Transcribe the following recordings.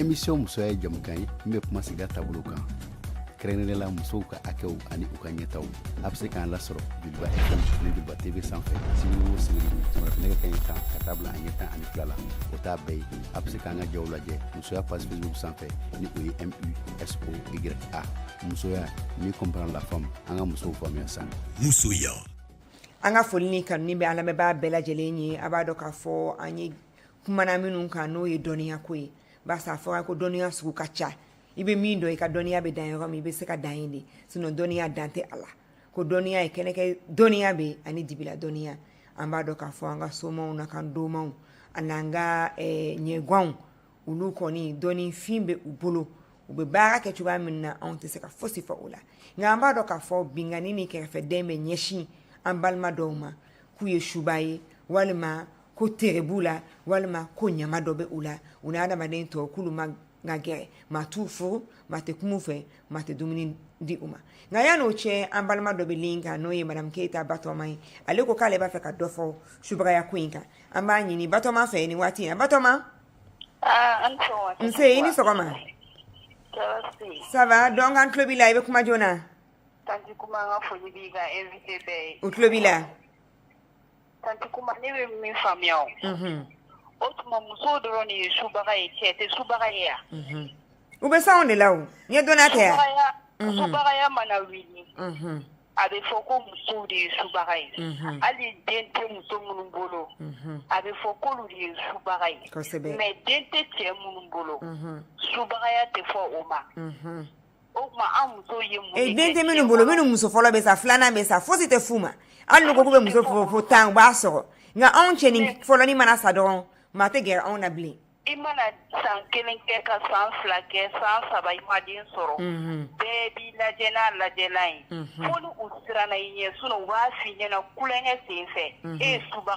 émission musoya ye jamukan ye min bɛ kuma sigida taabolo kan kɛrɛnkɛrɛnnenya la musow ka hakɛw ani u ka ɲɛtaw a bɛ se k'an lasɔrɔ joliba fm ani joliba tv sanfɛ sibiri o sibiri nɛgɛ kaɲɛ tan ka taa bila a ɲɛ tan ani fila la o t'a bɛɛ ye a bɛ se k'an ka jaw lajɛ musoya page facebook sanfɛ ni o ye musoya a musoya ni comprendre la femme an ka musow faamuya san musoya an ka foli ni tanuni bɛ an lamɛnbaa bɛɛ lajɛlen ye a b'a dɔn k'a fɔ an ye kumana minnu kan n'o ye dɔnniya ko ye barisa a fɔra ko dɔnniya sugu ka ca i bɛ min dɔn i ka dɔnniya bɛ dan yɔrɔ min i bɛ se ka dan yen de sinon dɔnniya dan tɛ a la ko dɔnniya ye kɛnɛkan dɔnniya bɛ ani dibila dɔnniya an b'a dɔn k'a fɔ an ka somaw n'an ka domaw an'an ka eh, ɲagwanw olu kɔni dɔnnifin bɛ u bolo u bɛ baara kɛ cogoya min na anw tɛ se ka fosi fɔ o la nka an b'a dɔn k'a fɔ binkanni ni kɛrɛfɛdɛn bɛ ɲɛsin an balima dɔw ma k'u ye suba ye walima ko tere b'u la walima ko ɲama dɔ bɛ u la u ni adamaden tɔw k'olu man ka gɛrɛ maa t'u fo maa tɛ kuma u fɛ maa tɛ dumuni di u ma nka yann'o cɛ an balima dɔ bɛ lin kan n'o ye madamu keyita batɔma ye ale ko k'ale b'a fɛ ka dɔ fɔ subagaya ko in kan an b'a ɲini batɔma fɛ nin waati in na batɔma ah, nse i ni sɔgɔma ça va donc an tulo b'i la i bɛ kuma joona u tulo b'i la Tanti kuma ne bɛ min faamuya o. Unhun. O tuma musow dɔrɔn de ye subaga ye cɛ tɛ subaga ye wa? Unhun. U bɛ s'anw de la o. Ni ye dɔnniya tɛ wa? Subagaya. Unhun. Subagaya mana wuli. Unhun. A bɛ fɔ ko musow de ye subaga ye. Unhun. Hali den tɛ muso minnu bolo. Unhun. A bɛ fɔ k'olu de ye subaga ye. Kosɛbɛ. Mais den tɛ cɛ minnu bolo. Unhun. Subagaya tɛ fɔ o ma. Unhun. Den tɛ minnu bolo minnu muso fɔlɔ bɛ sa filanan bɛ sa fosi tɛ f'u ma hali n'u ko k'u bɛ muso fɔ fo tan u b'a sɔrɔ nka anw cɛnin fɔlɔnin mana sa dɔrɔn maa tɛ gɛrɛ anw na bilen i mana san kelen kɛ ka san fila kɛ san saba i ma den sɔrɔ bɛɛ b'i lajɛ n'a lajɛlan ye fo ni u siranna i ɲɛ sinon u b'a f'i ɲɛna tulonkɛ sen fɛ e ye suba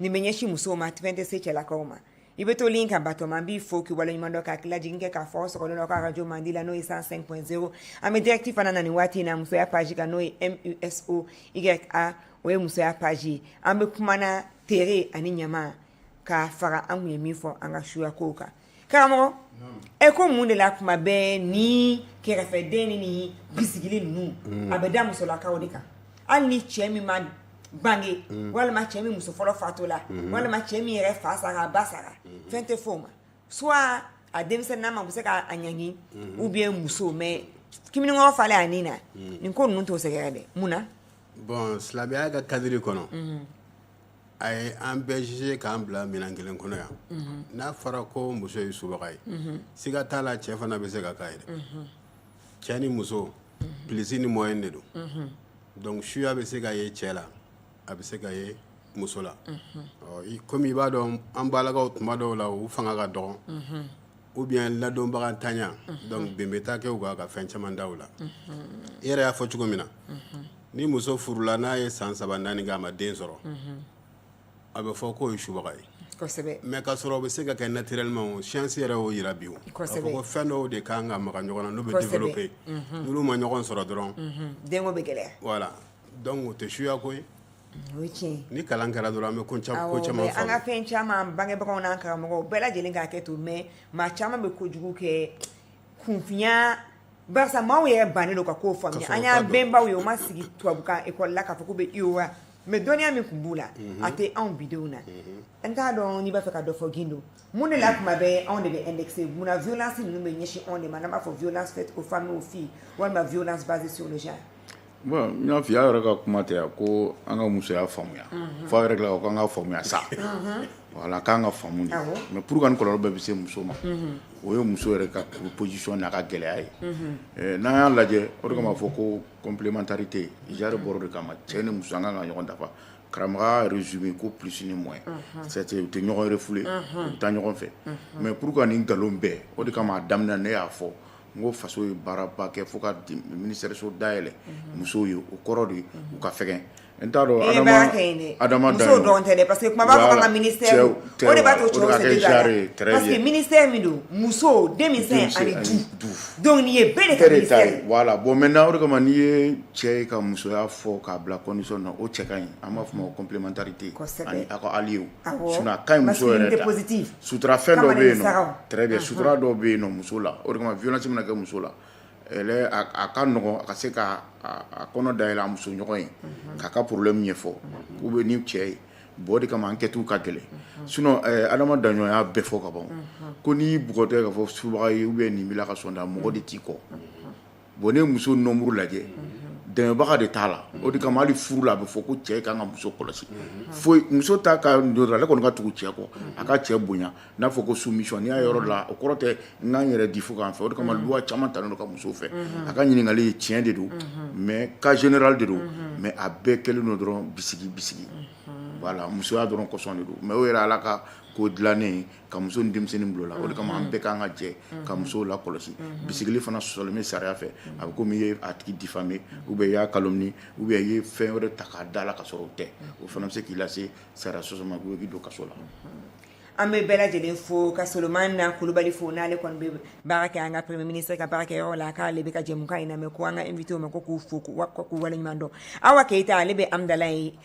nin bɛ ɲɛsin musow ma fɛn tɛ se cɛlakaw ma i bɛ to lin kan batɔma an b'i fo k'i waleɲuman dɔn ka hakililajigin kɛ k'a fɔ aw sɔgɔlen don aw ka arajo mandi la n'o ye 105 point 0 an bɛ dirɛkiti fana na nin waati in na musoya paji kan n'o ye musoya o ye musoya paji ye an bɛ kumana tere ani ɲama ka fara an tun ye min fɔ an ka suya kow kan karamɔgɔ e ko mun de la kuma bɛɛ nin kɛrɛfɛdɛnni ni bisigili ninnu a bɛ da musolakaw de kan hali ni cɛ min ma bange walima cɛ min muso fɔlɔ fatura walima cɛ min yɛrɛ fa sara a ba sara fɛn tɛ fɔ o ma soit a denmisɛnnama bɛ se k'a ɲangi ou bien muso mais kamalenkɔrɔ falen a ni na nin ko ninnu t'o sɛgɛrɛ dɛ mun na bon silamɛya ka kadiri kɔnɔ a ye an bɛɛ jugé k'an bila minɛn kelen kɔnɔ yan, unhun, n'a fɔra ko muso ye subaga ye, unhun, siga t'a la cɛ fana bɛ se ka k'a ye dɛ, unhun, cɛ ni muso plus ni moins de don, unhun, donc suya bɛ se ka ye cɛ la a bɛ se ka ye muso la, unhun, ɔ comme i b'a dɔn an balakaw tuma dɔw la u fanga ka dɔgɔn, unhun, ou bien ladɔnbaga ntanya, unhun, donc bɛnbɛ t'a kɛ u kan ka fɛn caman da u la, unhun, i yɛrɛ y'a fɔ cogo min na, unhun ni muso furula n'a ye san saba naani kɛ a ma den sɔrɔ a bɛ fɔ k'o ye subaga ye kosɛbɛ mais ka sɔrɔ o bɛ se ka kɛ naturellement science yɛrɛ y'o jira bi o ko fɛn dɔw de ka kan ka maga ɲɔgɔn na n'u bɛ développer n'olu ma ɲɔgɔn sɔrɔ dɔrɔn denko bɛ gɛlɛya voilà donc o tɛ suya ko ye ni kalan kɛra dɔrɔn an bɛ ko caman faamu an ka fɛn caman bangebagaw n'an karamɔgɔw bɛɛ lajɛlen k'a kɛ to mais maa caman bɛ ko kojugu kɛ kunfinya Barisa maaw yɛrɛ bannen don ka kow faamuya, kosɛbɛ, u t'a dɔn, an y'an bɛnbaw ye u ma sigi tubabukan école la k'a fɔ k'u bɛ UOA mais dɔnniya min tun b'u la, unhun, a tɛ anw bi denw na, unhun, n t'a dɔn n'i b'a fɛ ka dɔ fɔ Gindo mun de la tuma bɛɛ anw de bɛ indexer mun na violence ninnu bɛ ɲɛsin anw de ma n'an b'a fɔ violence faite aux femmes et aux filles walima violence basée sur le genre N y'a f'i y'a yɛrɛ ka kuma tɛ yan ko an ka musoya faamuya f'a yɛrɛ la ko an ka faamuya sa voilà k'an ka faamu de mais pour que nin kɔlɔlɔ bɛɛ bɛ se muso ma o ye muso yɛrɛ ka position n'a ka gɛlɛya ye n'an y'a lajɛ o de b'a fɔ ko complémentarité genre bɔr'o de kama cɛ ni muso an kan ka ɲɔgɔn dafa karamɔgɔ résumé ko plus ni moins u tɛ ɲɔgɔn refouler u bɛ taa ɲɔgɔn fɛ mais pour que nin nkalon bɛɛ o de kama a daminɛ ne y'a fɔ n ko faso ye baaraba kɛ fo ka ministère so dayɛlɛ musow ye o kɔrɔ de ye u ka fɛgɛn n t'a dɔn Adama Daɲɔn Adama Daɲɔn musow dɔrɔn tɛ dɛ parce que tuma b'a fɔ k'an ka ministère o de b'a to cɛw se tɛ don a la parce que ministère min don muso denmisɛn ani du donc nin ye bɛɛ de ka ministère ye voilà bon maintenant o de kama n'i ye cɛ ye ka musoya fɔ k'a bila condition na o cɛ ka ɲi an b'a fɔ o ma ko complémentarité kosɛbɛ ani a ka alliés sutura fɛn dɔ bɛ yen très bien sutura dɔ bɛ yen muso la o de kama violence mana kɛ muso la a ka nɔgɔ a ka se k'a kɔnɔ dayɛlɛ a muso ɲɔgɔn ye k'a ka problème ɲɛfɔ k'u bɛ ni cɛ ye bon o de kama enquête ka gɛlɛn sinon Adama Daɲɔn y'a bɛɛ fɔ ka ban ko n'i bugɔtɔ k'a fɔ subaga ye ou bien nin b'i la ka sɔn da mɔgɔ de t'i kɔ Bon ni muso nombre lajɛ dɛmɛbaga de t'a la o de kama hali furu la a bɛ fɔ ko cɛ kan ka muso kɔlɔsi fo muso ta ka dɔgɔn ale kɔni ka tugu cɛ kɔ a ka cɛ bonya n'a fɔ ko soumission n'i y'a yɔrɔ la o kɔrɔ tɛ n k'an yɛrɛ di fu k'an fɛ o de kama loi caman talen don ka muso fɛ a ka ɲininkali ye tiɲɛ de don mais cas général de don mais a bɛɛ kɛlen don dɔrɔn bisigi bisigi voilà musoya dɔrɔn kɔsɔn de don mais o yɛrɛ ala ka ko dilanen ka muso denmisɛnnin bulon la o de kama an bɛɛ k'an ka jɛ ka musow la kɔlɔsi bisigili fana sɔsɔlen bɛ sariya fɛ a bɛ komi i ye a tigi diffamé ou bien i y'a calomnié ou bien i ye fɛn wɛrɛ ta k'a da la ka sɔrɔ o tɛ o fana bɛ se k'i lase sariya sɔsɔ ma k'i don kaso la an bɛ bɛɛ lajɛlen fo ka solomana kulubali fo n'ale kɔni bɛ baara kɛ an ka premier ministre ka baara kɛ yɔrɔ la k'ale bɛ ka jɛmukan in lamɛn ko an ka invité ma ko k'u fo k'u waleɲuman dɔn awa keyita ale bɛ amudalayi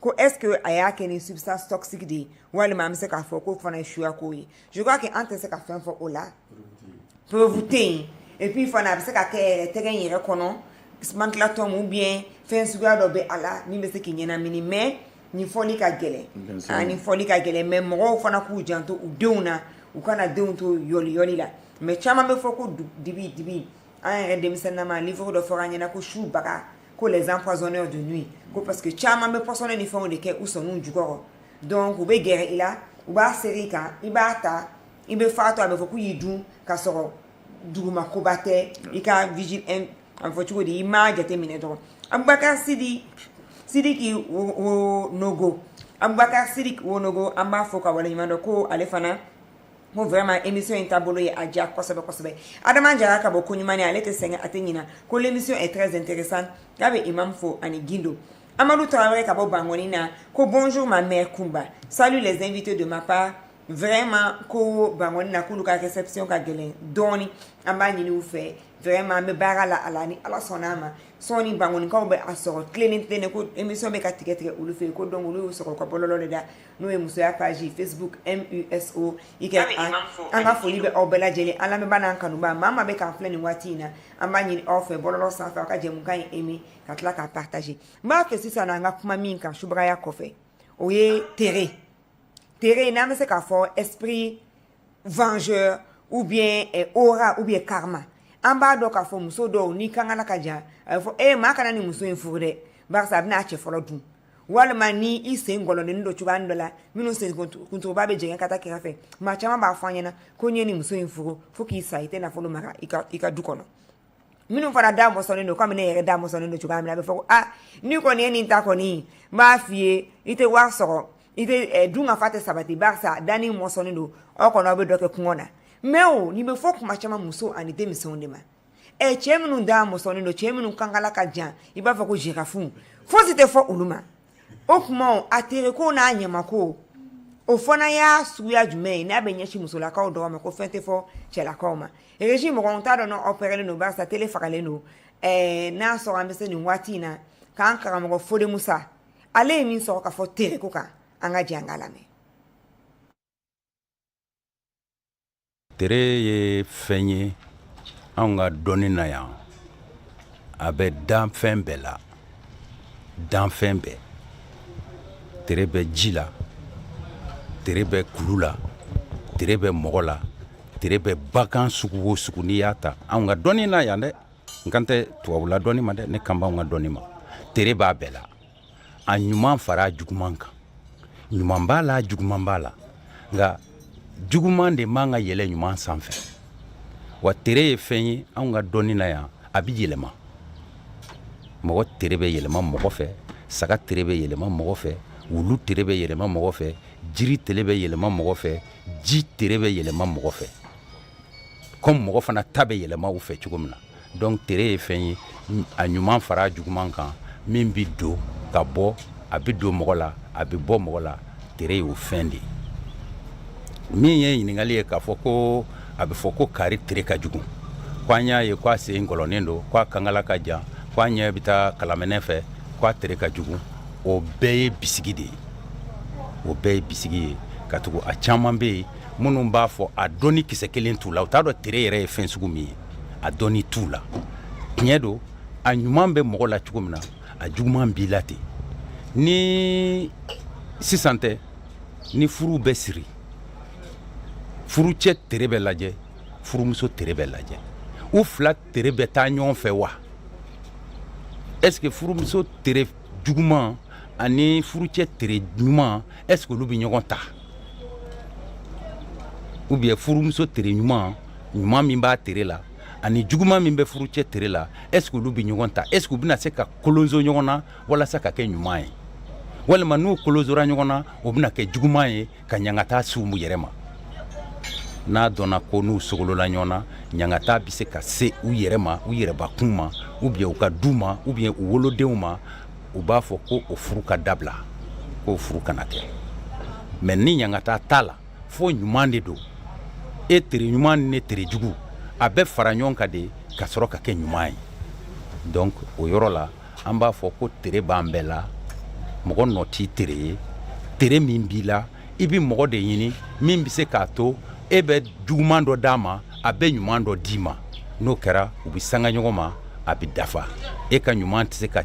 Ko est-ce que a y'a kɛ ni substance toxique de ye walima an bɛ se k'a fɔ ko o fana ye suya ko ye je crois que an tɛ se ka fɛn fɔ o la preuve tɛ yen et puis fana a bɛ se ka kɛ tɛgɛ in yɛrɛ kɔnɔ sumatɔ ou bien fɛn suguya dɔ bɛ a la min bɛ se k'i ɲɛnamini mais nin fɔli ka gɛlɛn nin fɔli ka gɛlɛn mais mɔgɔw fana k'u janto u denw na u kana denw to yɔli la mais caman bɛ fɔ ko dibi dibi an yɛrɛ denmisɛnninma livre dɔ fɔra an ɲɛna ko subaga ko les empoisonneurs de nuit ko parce que caman bɛ pɔsɔni ni fɛnw de kɛ u sɔninw jukɔrɔ donc u bɛ gɛrɛ i la u b'a seri i kan i b'a ta i bɛ faatu a bɛ fɔ k'u y'i dun ka sɔrɔ dugumakoba tɛ i ka vigilance a bɛ fɔ cogo di i m'a jateminɛ dɔrɔn abubakar sidi sidiki wo- wonogo abubakar sidiki wonogo an b'a fo k'a waleɲuman dɔn ko ale fana n ko vraiment émission in taabolo ye a diya kosɛbɛ kosɛbɛ adama jara ka bɔ koɲumani ale tɛ sɛgɛn a tɛ ɲina ko l'émission est très intéressante k'a bɛ imam fo ani gindo amadu tarawele ka bɔ bangɔni na ko bonjour ma mère kunba salut les invités de ma part vraiment ko bangɔni na k'olu ka réception ka gɛlɛn dɔɔni an b'a ɲini u fɛ vraiment an bɛ baara la a la ni ala sɔnna a ma sɔɔni bangonikaw bɛ a sɔrɔ tilennen tilennen ko émission bɛ ka tigɛ tigɛ olu fɛ yen ko donc olu y'u sɔrɔ u ka bɔlɔlɔ de da n'o ye musoya page facebook m u s o y a an ka foli bɛ aw bɛɛ lajɛlen an lamɛnbaa n'an kanubaa maa maa bɛ k'an filɛ nin waati in na an b'a ɲini aw fɛ bɔlɔlɔ sanfɛ aw ka jɛmukan in aimé ka tila k'a partager n b'a fɛ sisan an ka kuma min kan subagaya kɔfɛ o ye tere tere n'an bɛ se k'a fɔ esprit vengeur ou bien eh, aura ou bien karma an b'a dɔn k'a fɔ muso dɔw n'i kankala ka jan a bɛ fɔ ee maa kana nin muso in furu dɛ barisa a bɛna a cɛ fɔlɔ dun walima ni i sen gɔlɔnnen don cogoya dɔ la minnu sen kuntuguba bɛ jɛngɛ ka taa kɛrɛfɛ fɛ maa caman b'a fɔ an ɲɛna ko n'i ye nin muso in furu fo k'i sa i tɛ nafolo mara i ka i ka du kɔnɔ minnu fana da mɔsɔnnen don komi ne yɛrɛ da mɔsɔnnen don cogoya min na a bɛ fɔ ko n'i kɔni ye nin ta kɔni n b'a f'i ye i tɛ wari sɔrɔ i tɛ eh, dunkafa tɛ sabati barisa danin mɔsɔnnen don aw kɔnɔ aw bɛ dɔ kɛ kɔngɔ na mais o nin bɛ fɔ kuma caman muso ani denmisɛnw de ma ɛ cɛ minnu da mɔsɔnnen don cɛ minnu kankala ka jan i b'a fɔ ko girafe fosi tɛ fɔ olu ma o tuma a tere ko n'a ɲamako o fana y'a suguya jumɛn ye n'a bɛ ɲɛsin musolakaw dɔrɔn ma ko fɛn tɛ fɔ cɛlakaw ma régie mɔgɔ t'a dɔn n'aw parelen don barisa tele fagalen don n'a sɔrɔ an bɛ se nin waati in na k'an karamɔgɔ fode musa ale ye min sɔrɔ ka fɔ tere ko kan an ka jɛ an k'a lamɛn Tere ye fɛn ye anw ka dɔnni na yan a bɛ danfɛn bɛɛ la danfɛn bɛɛ tere bɛ ji la tere bɛ kulu la tere bɛ mɔgɔ la tere bɛ bagan sugu o sugu n'i y'a ta anw ka dɔnni na yan dɛ n kan tɛ tubabula dɔnni ma dɛ ne kan b'anw ka dɔnni ma tere b'a bɛɛ la a ɲuman fara a juguman kan ɲuman b'a la juguman b'a la nka juguman de man ka yɛlɛ ɲuman sanfɛ wa tere ye fɛn ye anw ka dɔnni na yan a bɛ yɛlɛma mɔgɔ tere bɛ yɛlɛma mɔgɔ fɛ saga tere bɛ yɛlɛma mɔgɔ fɛ wulu tere bɛ yɛlɛma mɔgɔ fɛ jiri tere bɛ yɛlɛma mɔgɔ fɛ ji tere bɛ yɛlɛma mɔgɔ fɛ kɔmi mɔgɔ fana ta bɛ yɛlɛma u fɛ cogo min na donc tere ye fɛn ye a ɲuman fara a juguman kan min bɛ don ka bɔ a bɛ don mɔgɔ la a bɛ bɔ mɔgɔ la tere y'o fɛn de ye min ye ɲininkali ye k'a fɔ ko a bɛ fɔ ko kari tere ka jugu ko an y'a ye ko a sen gɔlɔnnen don ko a kankala ka jan ko a ɲɛ bɛ taa kalaminɛ fɛ ko a tere ka jugu o bɛɛ ye bisigi de ye o bɛɛ ye bisigi ye katugu a caman bɛ yen minnu b'a fɔ a dɔnni kisɛ kelen t'u la u t'a dɔn tere yɛrɛ ye fɛn sugu min ye a dɔnni t'u la tiɲɛ don a ɲuman bɛ mɔgɔ la cogo min na a juguman b'i la ten ni sisan tɛ ni furu bɛ siri furucɛ tere bɛ lajɛ furumuso tere bɛ lajɛ u fila tere bɛ taa ɲɔgɔn fɛ wa est ce que furumuso tere juguman ani furucɛ tere ɲuman est ce que olu bɛ ɲɔgɔn ta ou bien furumuso tere ɲuman ɲuman min b'a tere la ani juguman min bɛ furucɛ tere la est ce que olu bɛ ɲɔgɔn ta est ce que u bɛna se ka kolonso ɲɔgɔn na walasa ka kɛ ɲuman ye walima n'u kolonsora ɲɔgɔn na o bɛna kɛ juguman ye ka ɲangata s'u yɛrɛ ma n'a dɔnna ko n'u sogolola ɲɔgɔn na ɲangata bɛ se ka se u yɛrɛ ma u yɛrɛbakun ma ou bien u ka du ma ou bien u wolodenw ma u b'a fɔ ko o furu ka dabila k'o furu kana kɛ mais ni ɲangata t'a la fo ɲuman de don e tere ɲuman ni ne tere jugu a bɛ fara ɲɔgɔn kan de ka sɔrɔ ka kɛ ɲuman ye donc o yɔrɔ la an b'a fɔ ko tere b'an bɛɛ la mɔgɔ nɔ t'i tere ye tere min b'i la i bɛ mɔgɔ de ɲini min bɛ se k'a to e bɛ juguman dɔ d'a ma a bɛ ɲuman dɔ d'i ma n'o kɛra u bɛ sanga ɲɔgɔn ma a bɛ dafa e ka ɲuman tɛ se ka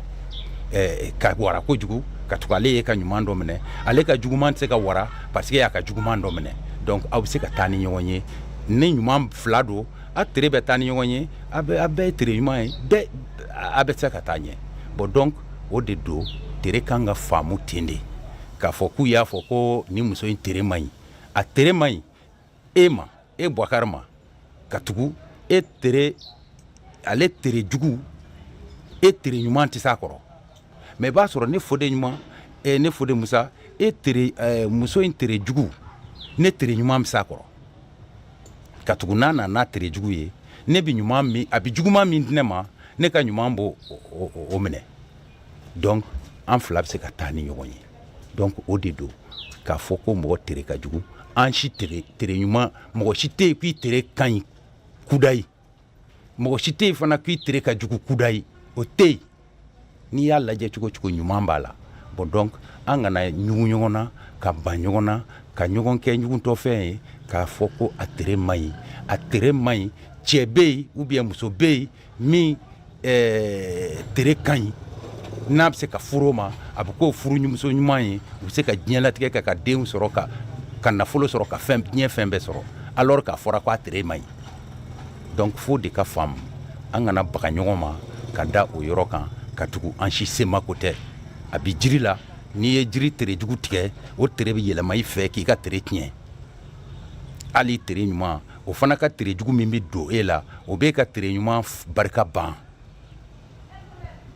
eh, ka wara kojugu katugu ale y'e ka ɲuman dɔ minɛ ale ka juguman tɛ se ka wara parce que e y'a ka juguman dɔ minɛ donc aw bɛ se ka taa ni ɲɔgɔn ye ni ɲuman fila don a tere bɛ taa ni ɲɔgɔn ye a bɛɛ ye tere ɲuman ye bɛɛ a bɛ se ka taa ɲɛ bon donc o de don tere kan ka faamu ten de k'a fɔ k'u y'a fɔ ko ni muso in tere man ɲi a tere man ɲi e ma e bakari ma ka tugu e tere ale tere jugu e tere ɲuman tɛ se a kɔrɔ mais i b'a sɔrɔ ne fode ɲuman ne fode musa e tere muso in tere jugu ne tere ɲuman bɛ se a kɔrɔ ka tugu n'a na n'a tere jugu ye ne bɛ ɲuman min a bɛ juguman min di ne ma ne ka ɲuman b'o o minɛ donc an fila bɛ se ka taa ni ɲɔgɔn ye donc o de don k'a fɔ ko mɔgɔ tere ka jugu an si tere ɲuman mɔgɔ si tɛ yen k'i tere ka ɲi kudayi mɔgɔ si tɛ yen fana k'i tere ka jugu kudayi o tɛ yen n'i y'a lajɛ cogo cogo ɲuman b'a la bon donc an kana ɲugu ɲɔgɔn na ka ban ɲɔgɔn na ka ɲɔgɔn kɛ ɲugutɔfɛn ye k'a fɔ ko a tere man ɲi a tere man ɲi cɛ bɛ yen ou bien muso bɛ yen min ɛɛ tere ka ɲi n'a bɛ se ka furu o ma a bɛ k'o furu ɲu muso ɲuman ye u bɛ se ka diɲɛlatigɛ kɛ ka denw sɔrɔ ka nafolo sɔrɔ ka diɲɛ fɛn bɛɛ sɔrɔ alors k'a fɔra k'a tere man ɲi donc f'o de ka faamu an kana baga ɲɔgɔn ma ka da o yɔrɔ kan ka tugu an si semako tɛ a bɛ jiri la n'i ye jiri tere jugu tigɛ o tere bɛ yɛlɛma i fɛ k'i ka tere tiɲɛ hali tere ɲuman o fana ka tere jugu min bɛ don e la o b'e ka tere ɲuman barika ban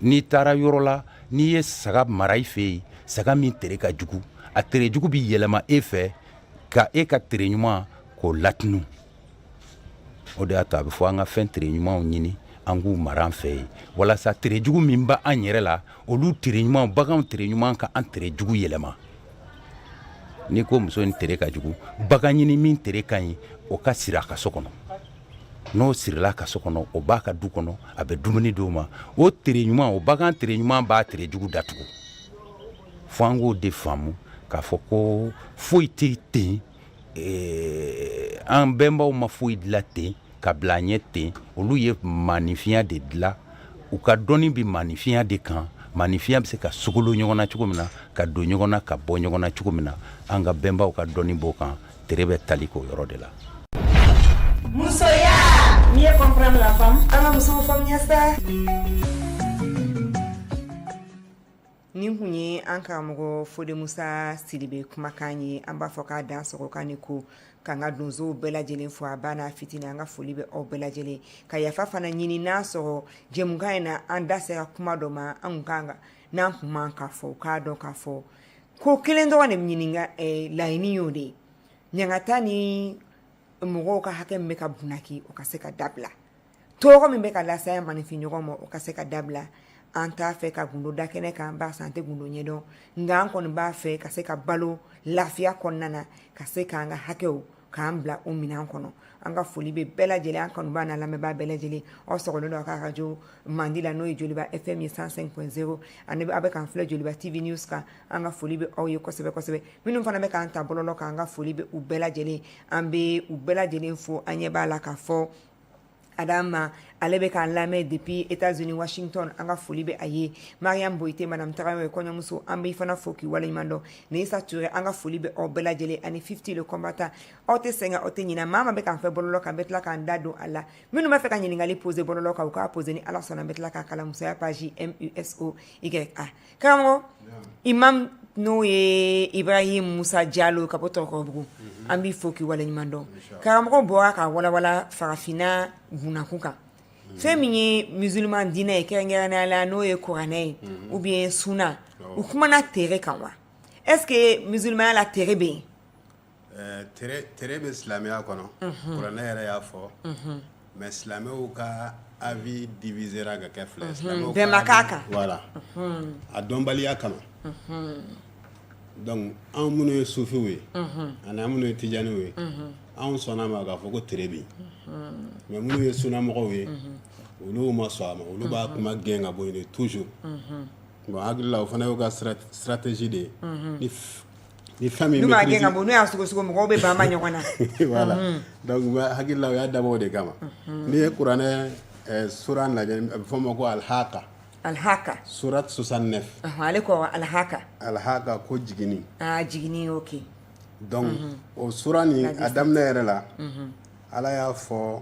n'i taara yɔrɔ la n'i ye saga mara i fɛ yen saga min tere ka jugu a tere jugu bɛ yɛlɛma e fɛ ka e ka tere ɲuman k'o latunu o de y'a to a bɛ fɔ an ka fɛn tere ɲumanw ɲini an k'u mara an fɛ yen walasa tere jugu min bɛ an yɛrɛ la olu tere ɲuman baganw tere ɲuman ka an tere jugu yɛlɛma n'i ko muso in tere ka jugu bagan ɲini min tere ka ɲi o ka siri a ka so kɔnɔ n'o sirila a ka so kɔnɔ o b'a ka du kɔnɔ a bɛ dumuni di o ma o tere ɲuman o bagan tere ɲuman b'a tere jugu datugu fo an k'o de faamu k'a fɔ ko foyi tɛ ten Ee an bɛnbaw ma foyi dilan ten ka bila an ɲɛ ten olu ye maaninfinya de dilan u ka dɔnni bɛ maaninfinya de kan maaninfinya bɛ se ka sogolon ɲɔgɔn na cogo min na ka don ɲɔgɔn na ka bɔ ɲɔgɔn na cogo min na an ka bɛnbaw ka dɔnni b'o kan tere bɛ tali k'o yɔrɔ de la nin kun ye an karamɔgɔ Fode Musa Sidibe kumakan ye an b'a fo k'a dansɔgɔ k'a ni ko k'an ka donsow bɛɛ lajɛlen fo a ba n'a fitini an ka foli bɛ aw bɛɛ lajɛlen ka yafa fana ɲini n'a sɔrɔ jɛmukan in na an da sera kuma dɔ ma an kan ka n'an kun man k'a fɔ u k'a dɔn k'a fɔ ko kelen dɔrɔn de ɲininka eh, laɲini y'o de ye ɲangata ni mɔgɔw ka hakɛ min bɛ ka bunaki o ka se ka dabila tɔɔrɔ min bɛ ka lase an maninfin ɲɔgɔn ma o ka se ka dabila an t'a fɛ ka gundo da kɛnɛ kan parce an tɛ gundo ɲɛdɔn nka an kɔni b'a fɛ ka se ka balo lafiya kɔnɔna na ka se k'an ka hakɛw k'an bila u minɛn kɔnɔ an ka foli bɛ bɛɛ lajɛlen an kanubaa n'an lamɛnbaa bɛɛ lajɛlen aw sɔgɔlen don a ka radio mandi la n'o ye Joliba FM 105.0 ani aw bɛ k'an filɛ Joliba TV News kan an ka foli bɛ aw ye kosɛbɛ kosɛbɛ minnu fana bɛ k'an ta bɔlɔlɔ kan an ka foli bɛ u bɛɛ lajɛlen an bɛ u bɛɛ lajɛlen fo an ɲɛ b'a la ka fɔ Adama ale bɛ k'an lamɛn depuis Etats-Unis Washington an ka foli bɛ a ye Mariam Boyite Madame Tarawele kɔɲɔmuso an b'i fana fo k'i waleɲuman dɔn Neyisa Ture an ka foli bɛ aw bɛɛ lajɛlen ani Fifty le combattant aw tɛ sɛgɛn aw tɛ ɲinɛ maa ma bɛ k'an fɛ bɔlɔlɔ kan an bɛ tila k'an da don a la minnu b'a fɛ ka ɲininkali poser bɔlɔlɔ kan u k'a poser ni Ala sɔnna an bɛ tila k'a kalan musoya page MUSO YA karamɔgɔ imam n'o ye Ibrahim Musa Jalo ka bɔ Tɔrɔkɔrɔbugu an b'i fo k'i waleɲuman dɔn karamɔgɔ bɔra ka walawala farafinna bunakun kan fɛn min ye musulman diinɛ ye kɛrɛnkɛrɛnnenya la n'o ye kuranɛ ye ou bien sunna u kumana tere kan wa est-ce que musulmanya la tere bɛ yen Tere bɛ silamɛya kɔnɔ kuranɛ yɛrɛ y'a fɔ mais silamɛw ka avis divisera ka kɛ fila silamɛw ma bɛn a kan voilà a dɔnbaliya kama donc anw minnu ye sufiw ye ani minnu ye tijaniw ye anw sɔnna a ma k'a fɔ ko tere bɛ yen mais minnu ye sunnamɔgɔw ye olu ma sɔn a ma olu b'a kuma gɛn ka bɔ yen de toujours hakili la o fana y'u ka stratégie de ye Ni fɛn min n'u m'a gɛn ka bɔ n'u y'a sɔgɔsɔgɔ mɔgɔw bɛ ban ɲɔgɔn na voilà donc n hakili la u y'a dabɔ o de kama n'i ye kuranɛ sura lajɛ a bɛ fɔ o ma ko alihaka alihaka sourate 69 ale ko awɔ alihaka alihaka ko jigini aa jigini ok donc o sura nin a daminɛ yɛrɛ la Ala y'a fɔ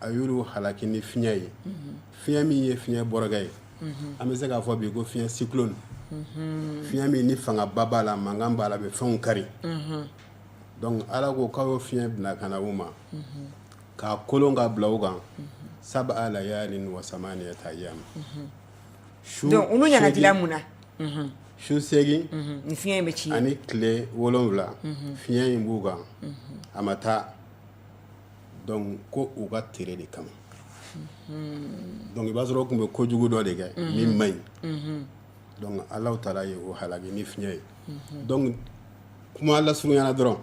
a y'olu halaki ni fiɲɛ ye fiɲɛ min ye fiɲɛ bɔrɔkɛ ye an bɛ se k'a fɔ bi ko fiɲɛ cyclone fiɲɛ min ni fangaba b'a la mankan b'a la a bɛ fɛnw kari donc ala ko k'a y'o fiɲɛ bila ka na u ma k'a kolon ka bila u kan sab'a layalin wa samaniyata ayyam donc olu ɲangatila mun na su seegin ni fiɲɛ in bɛ ci ani tile wolonwula fiɲɛ in b'u kan a ma taa ko u ka tere de kama donc i b'a sɔrɔ u tun bɛ ko jugu dɔ de kɛ min man ɲi ala taara ye o halaki ni fiɲɛ ye kuma lasurunyana dɔrɔn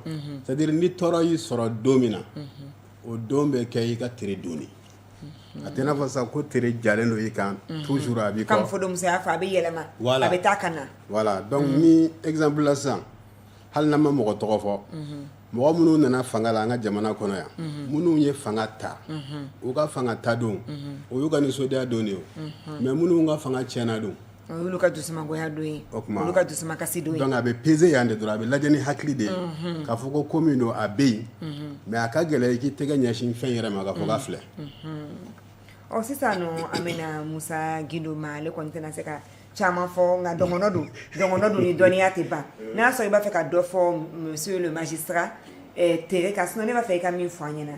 c'est à dire ni tɔɔrɔ y'i sɔrɔ don min na o don bɛ kɛ i ka tere don a tɛ n'a fɔ sa ko tere jalen don i kan toujours a bɛ comme fode musa y'a fɔ a bɛ yɛlɛma a bɛ taa ka na voilà donc ni exemple la sisan hali n'an ma mɔgɔ tɔgɔ fɔ mɔgɔ minnu nana fanga la an ka jamana kɔnɔ yan minnu ye fanga ta u ka fanga ta don o y'u ka nisɔndiya don de ye mais minnu ka fanga tiɲɛna don o y'u ka dusumangoya don ye olu ka dusukasi don ye donc a bɛ peser yan de don a bɛ lajɛ ni hakili de ye k'a fɔ ko ko min don a bɛ yen mais a ka gɛlɛn k'i tɛgɛ ɲɛsin fɛn yɛrɛ ma k'a fɔ k'a filɛ ɔ sisan an bɛna musa gindo ma ale kɔni tɛna se ka caman fɔ nka dɔngɔnɔ don dɔngɔnɔ don ni dɔnniya tɛ ban n'a y'a sɔrɔ i b'a fɛ ka dɔ fɔ monsieur le magistrat eh, tere ka sinɔ ne b'a fɛ i ka min fɔ an ɲɛna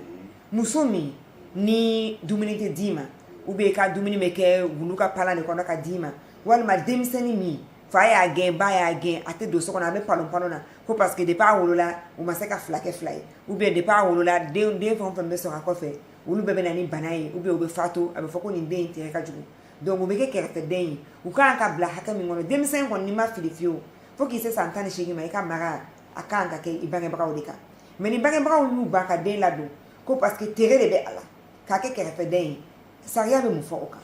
muso min ni dumuni tɛ d'i ma ou bien i ka dumuni bɛ kɛ wulu ka palan de kɔnɔ ka d'i ma walima denmisɛnnin min fa y'a gɛn ba y'a gɛn a tɛ don so kɔnɔ a bɛ bɔlɔn bɔlɔn na ko parce que depuis a wolola u ma se ka fila kɛ fila ye ou bien depuis a wolola den den fɛn o fɛn bɛ sɔrɔ a kɔfɛ olu bɛɛ bɛ na ni bana ye ou bien u bɛ fatu a bɛ fɔ ko nin den in tere ka jugu donc u bɛ kɛ kɛrɛfɛden ye u ka kan ka bila hakɛ min kɔnɔ denmisɛn kɔni n'i ma fili fiyewu fo k'i se san tan ni seegin ma i ka mara a ka kan ka kɛ i bangebagaw de kan mais ni bangebagaw y'u ban ka den ladon ko parce que tere de bɛ a la k'a kɛ kɛrɛfɛden ye sariya bɛ mun fɔ o kan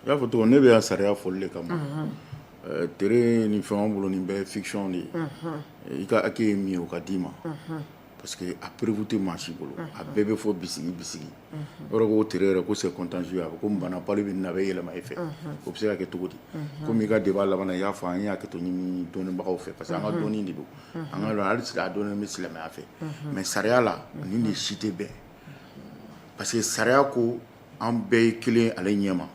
i y'a fɔ cogo ne bɛ yan sariya fɔli de kama eh, tere ni fɛn bolo nin bɛɛ fiction de ye i ka hakɛ ye min ye o ka d'i ma parce que a preuve tɛ maa si bolo a bɛɛ bɛ fɔ bisigi bisigi yɔrɔ ko tere yɛrɛ ko c'est contagieux ko bana palu bɛ n na a bɛ yɛlɛma e fɛ o bɛ se ka kɛ cogo di komi i ka débat laban na i y'a fɔ an y'a kɛcogo ɲini dɔnnibagaw fɛ parce que an ka dɔnni de don an ka hali a dɔnni bɛ silamɛya fɛ mais sariya la nin de si tɛ bɛn parce que sariya ko an bɛɛ ye kelen ale ɲɛma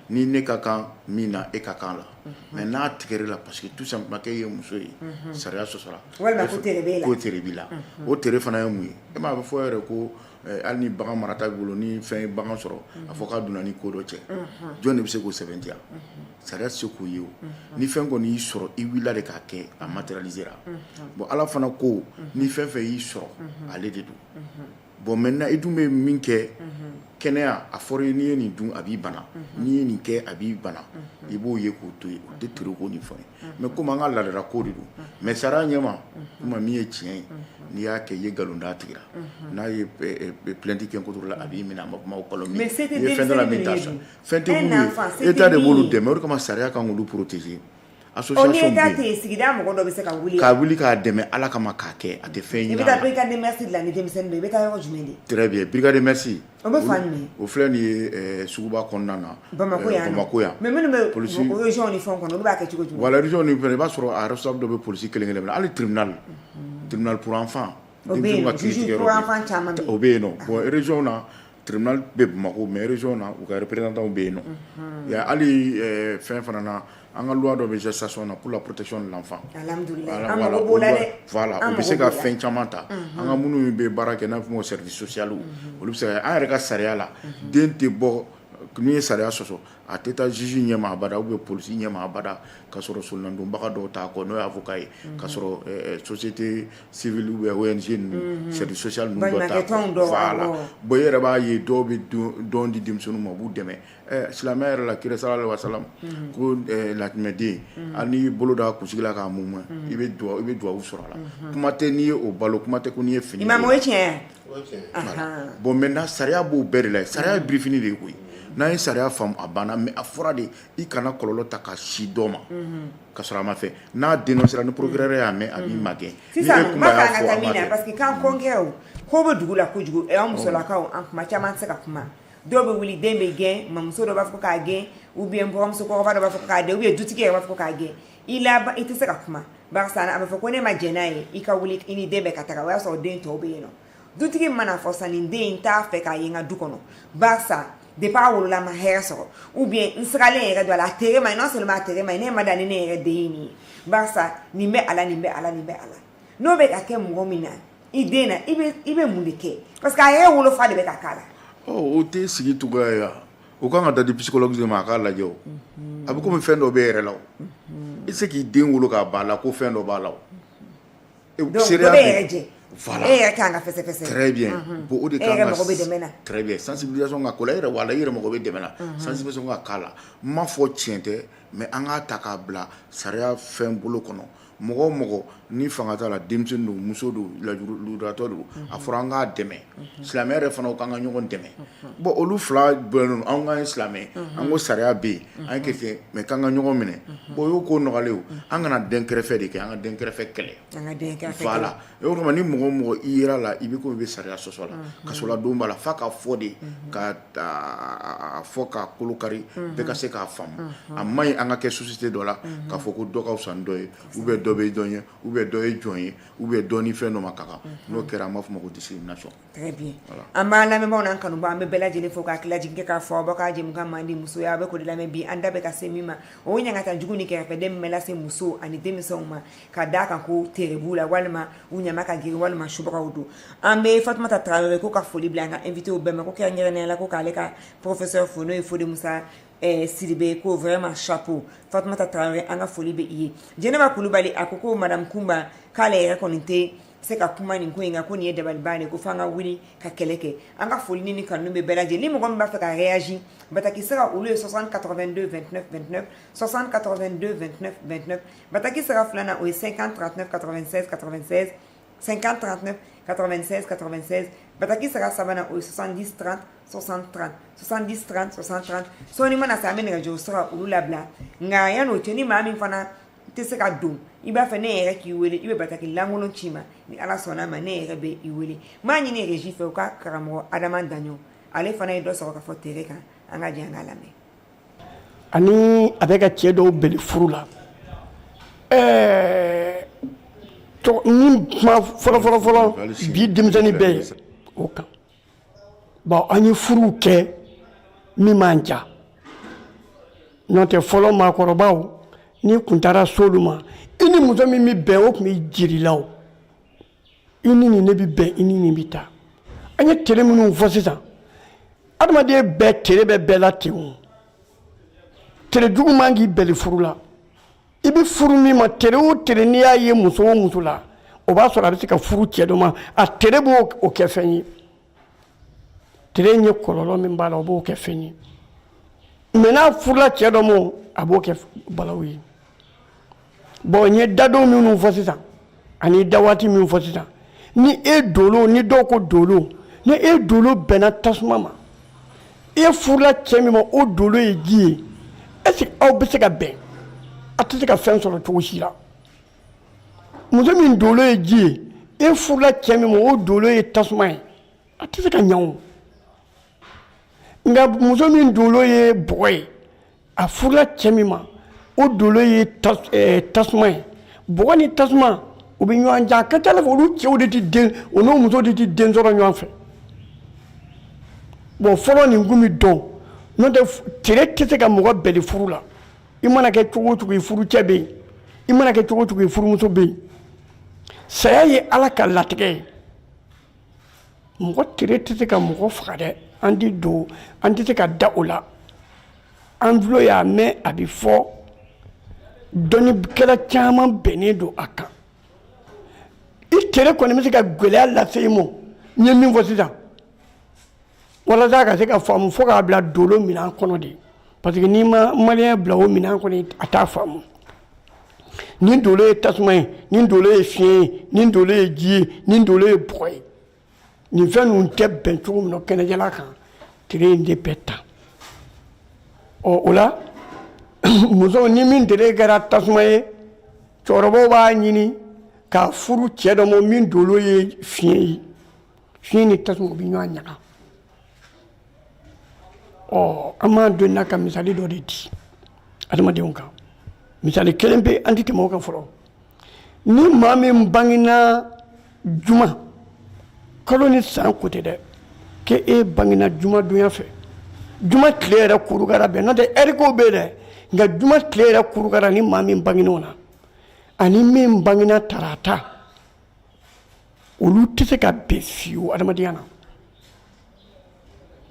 ni ne ka kan min na e ka kan la mais n'a tigɛra i la parce que tout simplement k'e ye muso ye sariya sɔsɔra tere b'i la o tere fana ye mun ye e ma a bɛ fɔ yɛrɛ ko eh, hali ni bagan marata b'i bolo ni fɛn ye bagan sɔrɔ a fɔ k'a donna ni ko dɔ cɛ jɔn de bɛ se k'o sɛbɛntiya sariya tɛ se k'o ye o ni fɛn kɔni y'i sɔrɔ i wulila de k'a kɛ a matérialisera bon ala fana ko ni fɛn fɛn y'i sɔrɔ ale de don bon maintenant i dun bɛ min kɛ kɛnɛya a fɔra i ye n'i ye nin dun a b'i bana n'i ye nin kɛ a b'i bana i b'o ye k'o to yen o tɛ tere ko nin fɛn ye mais komi an ka laadala ko de don mais sariya ɲɛma kuma min ye tiɲɛ ye n'i y'a kɛ i ye nkalon da tigi la n'a ye plainte kɛ contre i la a b'i minɛ a ma kuma fɛn min état de b'olu dɛmɛ o de kama sariya k'an protéger Association bɛ yen sigida mɔgɔ dɔ bɛ se ka wuli k'a wuli k'a dɛmɛ ala kama k'a kɛ a tɛ fɛn ɲini bɛ ka la ni denmisɛnnin i bɛ taa yɔrɔ jumɛn de très bien brigade des mœurs o bɛ fan jumɛn o filɛ nin ye suguba kɔnɔna na bamakɔ yan bamakɔ yan mais minnu bɛ région ni fɛn kɔnɔ olu b'a kɛ cogo jumɛn voilà région ni fɛn i b'a sɔrɔ a responsable dɔ bɛ police kelen kelen na hali tribunal tribunal pour enfant caman o bɛ yen nɔ Tribunal bɛ Bamako mais région na u ka représentants w bɛ yen nɔ, unhun, ya hali fɛn fana na an ka loi dɔ bɛ gestation na pour la protection de l'enfant, alihamidulilayi, an mago b'o la dɛ, voilà o bɛ se ka fɛn caman ta, unhun, an ka minnu bɛ baara kɛ n'an b'a fɔ o ma ko service social olu bɛ se ka, an yɛrɛ ka sariya la den tɛ bɔ n'i ye sariya sɔsɔ A tɛ taa juge ɲɛ ma abada ou bien police ɲɛ ma abada k'a sɔrɔ solonadonbaga dɔw t'a kɔ n'o ye avocat ye k'a sɔrɔ ɛɛ société civile ou bien ONG ninnu service social ninnu dɔ t'a kɔ, baɲumakɛ tɔnw dɔ, voilà bon i yɛrɛ b'a ye dɔw bɛ don di denmisɛnninw ma u b'u dɛmɛ ɛɛ silamɛya yɛrɛ la kira salalahu alayihi wasalamu ko ɛɛ latimɛden hali n'i y'i bolo d'a kunsigi la k'a mumu i bɛ duwawu sɔrɔ a la kuma tɛ n'i ye o balo kuma tɛ ko n'i ye fini don a la, imamu o ye tiɲɛ ye wa? bon mɛ sariya b'o bɛɛ de la sariya ye birif de ye koyi n'a ye sariya a banna mɛ a fɔra de i kana kɔlɔnlɔ ta ka si dɔ ma ka a ma fɛ n'a den sera ni poroɛ y'a mɛn a ma gɛn ko bɛ dugu la kojugu musolakaw an kuma caman se ka kuma dɔw bɛ wuli den bɛ gɛn mamuso dɔ b'a fɔ k'a gɛn u bɛ bɔmusokɔrɔba b'a fɔ k'a u ye dutigi b'a fɔ k'a gɛn i la i tɛ se ka kuma barisa a bɛ fɔ ko ne ma jɛn n'a ye i ka wuli i ni den bɛɛ ka taga o y'a sɔrɔ den tɔw bɛ yen nɔ dutigi man'a fɔ sa nin den in t'a fɛ k'a ye n ka du kɔnɔ barisa depuis a wolola ma hɛrɛ sɔrɔ ou bien n sigalen yɛrɛ don a la a tere man ɲi non seulement a tere man ɲi ne ma da ni ne yɛrɛ den ye nin ye barisa nin bɛ a la nin bɛ a la nin bɛ a la n'o bɛ ka kɛ mɔgɔ min na i den na i bɛ mun de kɛ parce que a yɛrɛ wolofa de bɛ ka k'a la o tɛ sigi cogoya ye wa U ka kan ka da di bisikɔlɔ ma a k'a lajɛ a bɛ kɔmi bɛ fɛn dɔ bɛ yɛrɛ la i tɛ se k'i den wolo k'a ba la ko fɛn dɔ b'a la e bɛ se ka la yɛrɛ mɔgɔ bɛ dɛmɛ sansi ka' la n ma fɔ tiɲɛ tɛ mɛ an k'a ta k'a bila sariya fɛn bolo kɔnɔ mɔgɔ o mɔgɔ ni fanga t'a la denmisɛn don muso don lujuratɔ don a fɔra an k'a dɛmɛ silamɛ yɛrɛ fana k'an ka ɲɔgɔn dɛmɛ bon olu fila bɛnnen don an ka silamɛ an ko sariya bɛ yen an ye kɛ mais k'an ka ɲɔgɔn minɛ bon o ye ko nɔgɔlen ye an kana denkɛrɛfɛ de kɛ an ka denkɛrɛfɛ kɛlɛ voilà E o kama ni mɔgɔ o mɔgɔ i jira la i bɛ komi i bɛ sariya sɔsɔ la kasoladon b'a la f'a ka fɔ de k'a fɔ k'a kolo kari bɛɛ ka se k'a faamu a man ɲi an ka kɛ société dɔ la ka fɔ ko dɔ ka fisa ni dɔ ye ou bien dɔ bɛ dɔ ɲɛ ou bien dɔ ye jɔn ye ou bien dɔ ni fɛn dɔ man kan n'o kɛra an b'a fɔ ma ko discrimination Très bien voilà an b'an lamɛnbaaw n'an kanubaaw an bɛ bɛɛ lajɛlen fo ka hakilijigin kɛ k'a fɔ aw ka jɛmukan mandi Musoya a' bɛ k'o de lamɛn bi an da bɛ ka se min ma o ye ɲangata jugu ni kɛrɛfɛdɛn min bɛ lase musow ani denmisɛnw ma ka d'a kan ko tere b'u la walima u ɲama ka girin walima subagaw don an bɛ Fatumata Traore ko ka foli bila an ka invitéw bɛɛ ma ko kɛrɛnkɛrɛnnenya la ko k'ale ka professeur fo n'o ye Fode Musa ɛɛ Sidibe ko vraiment chapeau Fatumata Traore an ka foli bɛ i ye Jɛnɛba Kulibali a ko ko madame Kumba k'ale yɛrɛ kɔni tɛ se ka kuma nin ko in ko nin ye dabali de ko fanga wuli ka kɛlɛ kɛ an ka foli ni kanu bɛ bɛɛ lajɛlen ni mɔgɔ min b'a fɛ ka reyaji bataki se ka olu ye sɔsan katɔfɛn don fɛn sɔsan katɔfɛn don fɛn bataki se ka filanan o ye sen kan tɔfɛn katɔfɛn sen kan tɔfɛn katɔfɛn bataki se ka sabanan o ye sɔsan di tran sɔsan tran sɔsan di tran sɔsan tran sɔɔni mana sa an bɛ nɛgɛjuru sɔrɔ olu labila nka yan n'o cɛ ni maa min fana tɛ se ka don i b'a fɛ ne yɛrɛ k'i wele i bɛ bataki lankolon ci n ma ni ala sɔnna ma ne yɛrɛ bɛ i wele m'a ɲini régie fɛ u ka karamɔgɔ adama daɲɔn ale fana ye dɔ sɔrɔ ka fɔ tere kan an ka jɛ an k'a lamɛn ani a bɛ ka cɛ dɔw bɛli furu la ɛɛ nin kuma fɔlɔfɔlɔfɔlɔ bi denmisɛnnin bɛɛ ye o kan bon an ye furuw kɛ min ma ɲa n'o tɛ fɔlɔ maakɔrɔbaw n'i kun taara se olu ma i ni muso min bɛ bɛn o tun bɛ jira i la o i ni nin ne bɛ bɛn i ni nin bɛ taa an ye tere minnu fɔ sisan adamaden bɛɛ tere bɛ bɛɛ la ten o tere juguman k'i bɛli furu la i bɛ furu min ma tere o tere n'i y'a ye muso o muso la o b'a sɔrɔ a bɛ se ka furu cɛ dɔ ma a tere b'o kɛ fɛn ye tere ye kɔlɔlɔ min b'a la o b'o kɛ fɛn ye mais n'a furula cɛ dɔ ma a b'o kɛ balawu ye bon n ye dadon minnu fɔ sisan ani da waati min fɔ sisan ni e dolo ni dɔw ko dolo ni e dolo bɛnna tasuma ma e furula cɛ min ma o dolo ye ji ye est-ce que aw bɛ se ka bɛn a tɛ se ka fɛn sɔrɔ cogo si la muso min dolo ye ji ye e furula cɛ min ma o dolo ye tasuma ye a tɛ se ka ɲɛ o nka muso min dolo ye bɔgɔ ye a furula cɛ min ma o dolo ye eh, tasuma ye bɔgɔ ni tasuma u bɛ ɲɔgɔn jan a ka ca la fɛ olu cɛw de tɛ den o n'o muso de tɛ den sɔrɔ ɲɔgɔn fɛ bon fɔlɔ nin kun bɛ dɔn n'o tɛ tere tɛ se ka mɔgɔ bɛli furu la i mana kɛ cogo o cogo i furucɛ bɛ yen i mana kɛ cogo o cogo i furumuso bɛ yen saya ye ala ka latigɛ ye mɔgɔ tere tɛ se ka mɔgɔ faga dɛ an t'a dɔn an tɛ se ka da o la an tulo y'a mɛn a bɛ fɔ dɔnnikɛla caman bɛnnen don a kan i tere kɔni bɛ se ka gɛlɛya lase i ma n ye min fɔ sisan walasa ka se k'a faamu fo k'a bila dolo minɛn kɔnɔ de parce que n'i ma maliyɛn bila o minɛn kɔnɔ a t'a faamu ni dolo ye tasuma ye ni dolo ye fiɲɛ ye ni dolo ye ji ye ni dolo ye bɔgɔ ye nin fɛn ninnu tɛ bɛn cogo min na kɛnɛjɛla kan tere in de bɛ ta ɔ o la muso ni min tere kɛra tasuma ye cɛkɔrɔbaw b'a ɲini k'a furu cɛ dɔ ma min dolo ye fiɲɛ ye fiɲɛ ni tasuma bɛ ɲɔgɔn ɲaga ɔ an b'an don na ka misali dɔ de di adamadenw kan misali kelen bɛ an tɛ tɛmɛ o kan fɔlɔ ni maa min bangena juma kalo ni san ko tɛ dɛ k'e e bangena juma donya fɛ juma tile yɛrɛ kurukara bɛn n'o tɛ ɛri kow bɛ yen dɛ nka juma tile yɛrɛ kurukara ni maa min bangen'o na ani min bangena tarata olu tɛ se ka bɛn fiyewu adamadenya na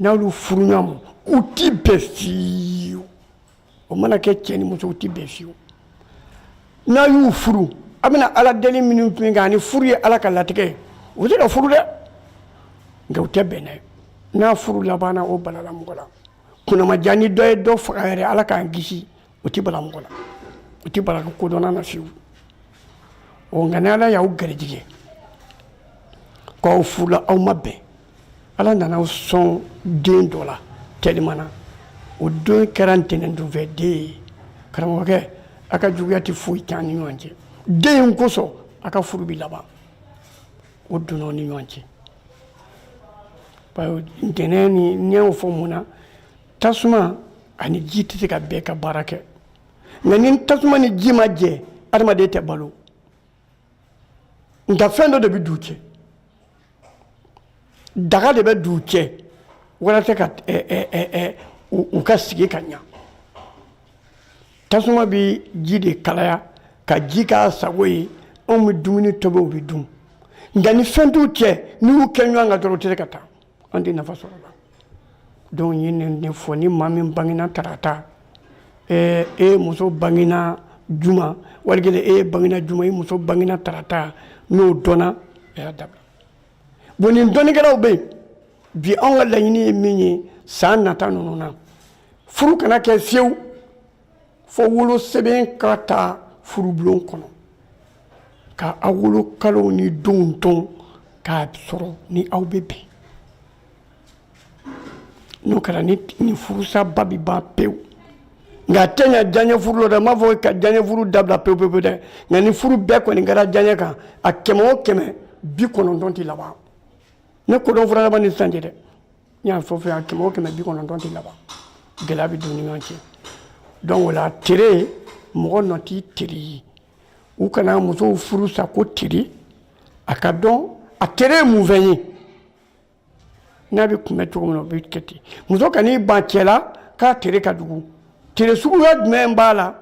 n'olu furu ɲɔgɔn ma u tɛ bɛn fiyewu o mana kɛ cɛ ni muso u tɛ bɛn fiyewu n'a y'u furu a bɛna ala deli minnu tun kan ani furu ye ala ka latigɛ ye u bɛ se ka furu dɛ nka u tɛ bɛn dɛ n'a furu labanna o balala mɔgɔ la kunnamajan ni dɔ ye dɔ faga yɛrɛ ala k'an kisi o tɛ bala mɔgɔ la o tɛ bala kodɔnna na fiyewu ɔ nka ni ala y'aw garijigɛ k'aw furula aw ma bɛn ala nana aw sɔn den dɔ la tɛliman na o don kɛra ntɛnɛndon fɛ den ye karamɔgɔkɛ a ka juguya tɛ foyi k'aw ni ɲɔgɔn cɛ den in kosɔn a ka furu bɛ laban o donna aw ni ɲɔgɔn cɛ ntɛnɛn ni n y'o fɔ mun na tasuma ani ji tɛ se ka bɛn ka baara kɛ nka ni tasuma ni ji ma jɛ adamaden tɛ balo nka fɛn dɔ de bɛ d'u cɛ daga de bɛ d'u cɛ walasa ka u ka sigi ka ɲa tasuma bɛ ji de kalaya ka ji k'a sago ye anw bɛ dumuni tobi u bɛ dun nka ni fɛn t'u cɛ n'i y'u kɛ ɲɔgɔn kan dɔrɔn u tɛ se ka taa an tɛ nafa sɔrɔ a la donc n ye nin de fɔ ni maa min bangena tarata ɛɛ e muso bangena juma wali kelen e yɛrɛ bangena juma i muso bangena tarata n'o dɔnna a y'a dabila bon nin dɔnnikɛlaw bɛ yen bi anw ka laɲini ye min ye san nata ninnu na furu kana kɛ fiyewu fo wolo sɛbɛn ka taa furubulon kɔnɔ ka aw wolo kalow ni donw dɔn k'a sɔrɔ ni aw bɛ bɛn n'o kɛra ni furusaba bɛ ban pewu nka a tɛ ɲa diyaɲɛ furu la dɛ n m'a fɔ ka diyaɲɛ furu dabila pewu pewu dɛ nka ni furu bɛɛ kɔni kɛra diyaɲɛ kan a kɛmɛ o kɛmɛ bi kɔnɔntɔn tɛ laban ne kodɔn fura laban ni sisan cɛ dɛ n y'a fɔ fɛ yan kɛmɛ o kɛmɛ bi kɔnɔntɔn tɛ laban gɛlɛya bɛ don ni ɲɔgɔn cɛ donc o la tere mɔgɔ nɔ t'i tere ye u kana musow furu sa ko tere a k'a dɔn a tere ye mun fɛn ye n'a bɛ kunbɛn cogo min na o bɛ kɛ ten muso kan'i ban cɛ la k'a tere ka jugu tere suguya jumɛn b'a la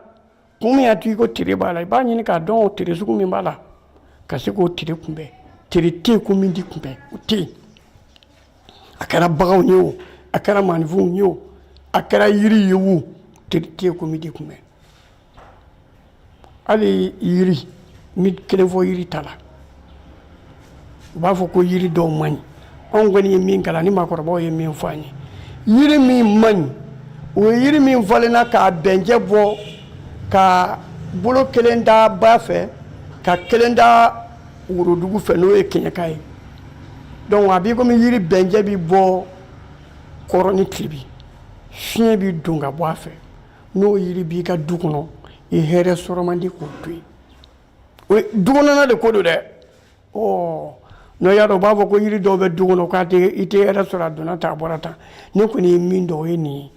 Kun min y'a to i ko tere b'a la i b'a ɲini k'a dɔn o tere sugu min b'a la ka se k'o tere kunbɛn tere tɛ yen ko min tɛ kunbɛn o tɛ yen a kɛra baganw ye o a kɛra maaninfinw ye o a kɛra yiri ye o tere tɛ yen ko min tɛ kunbɛn hali yiri n bɛ kelen fɔ yiri ta la u b'a fɔ ko yiri dɔw man ɲi anw kɔni ye min kalan ni maakɔrɔbaw ye min fɔ an ye yiri min man ɲi o ye yiri min falenna k'a bɛnjɛ bɔ ka bolo kelen da ba fɛ ka kelen da worodugu fɛ n'o ye kɛɲɛka ye donc a b'i komi yiri bɛnjɛ bi bɔ kɔrɔn ni tilebin fiɲɛ bi don ka bɔ a fɛ n'o yiri b'i ka du kɔnɔ i hɛrɛ sɔrɔ man di k'o to yen o ye du kɔnɔna de ko don dɛ ɔ n'o y'a sɔrɔ u b'a fɔ ko yiri dɔw bɛ du kɔnɔ k'a tɛ i tɛ hɛrɛ sɔrɔ a donna tan a bɔra tan ne kɔni ye min dɔn o ye nin ye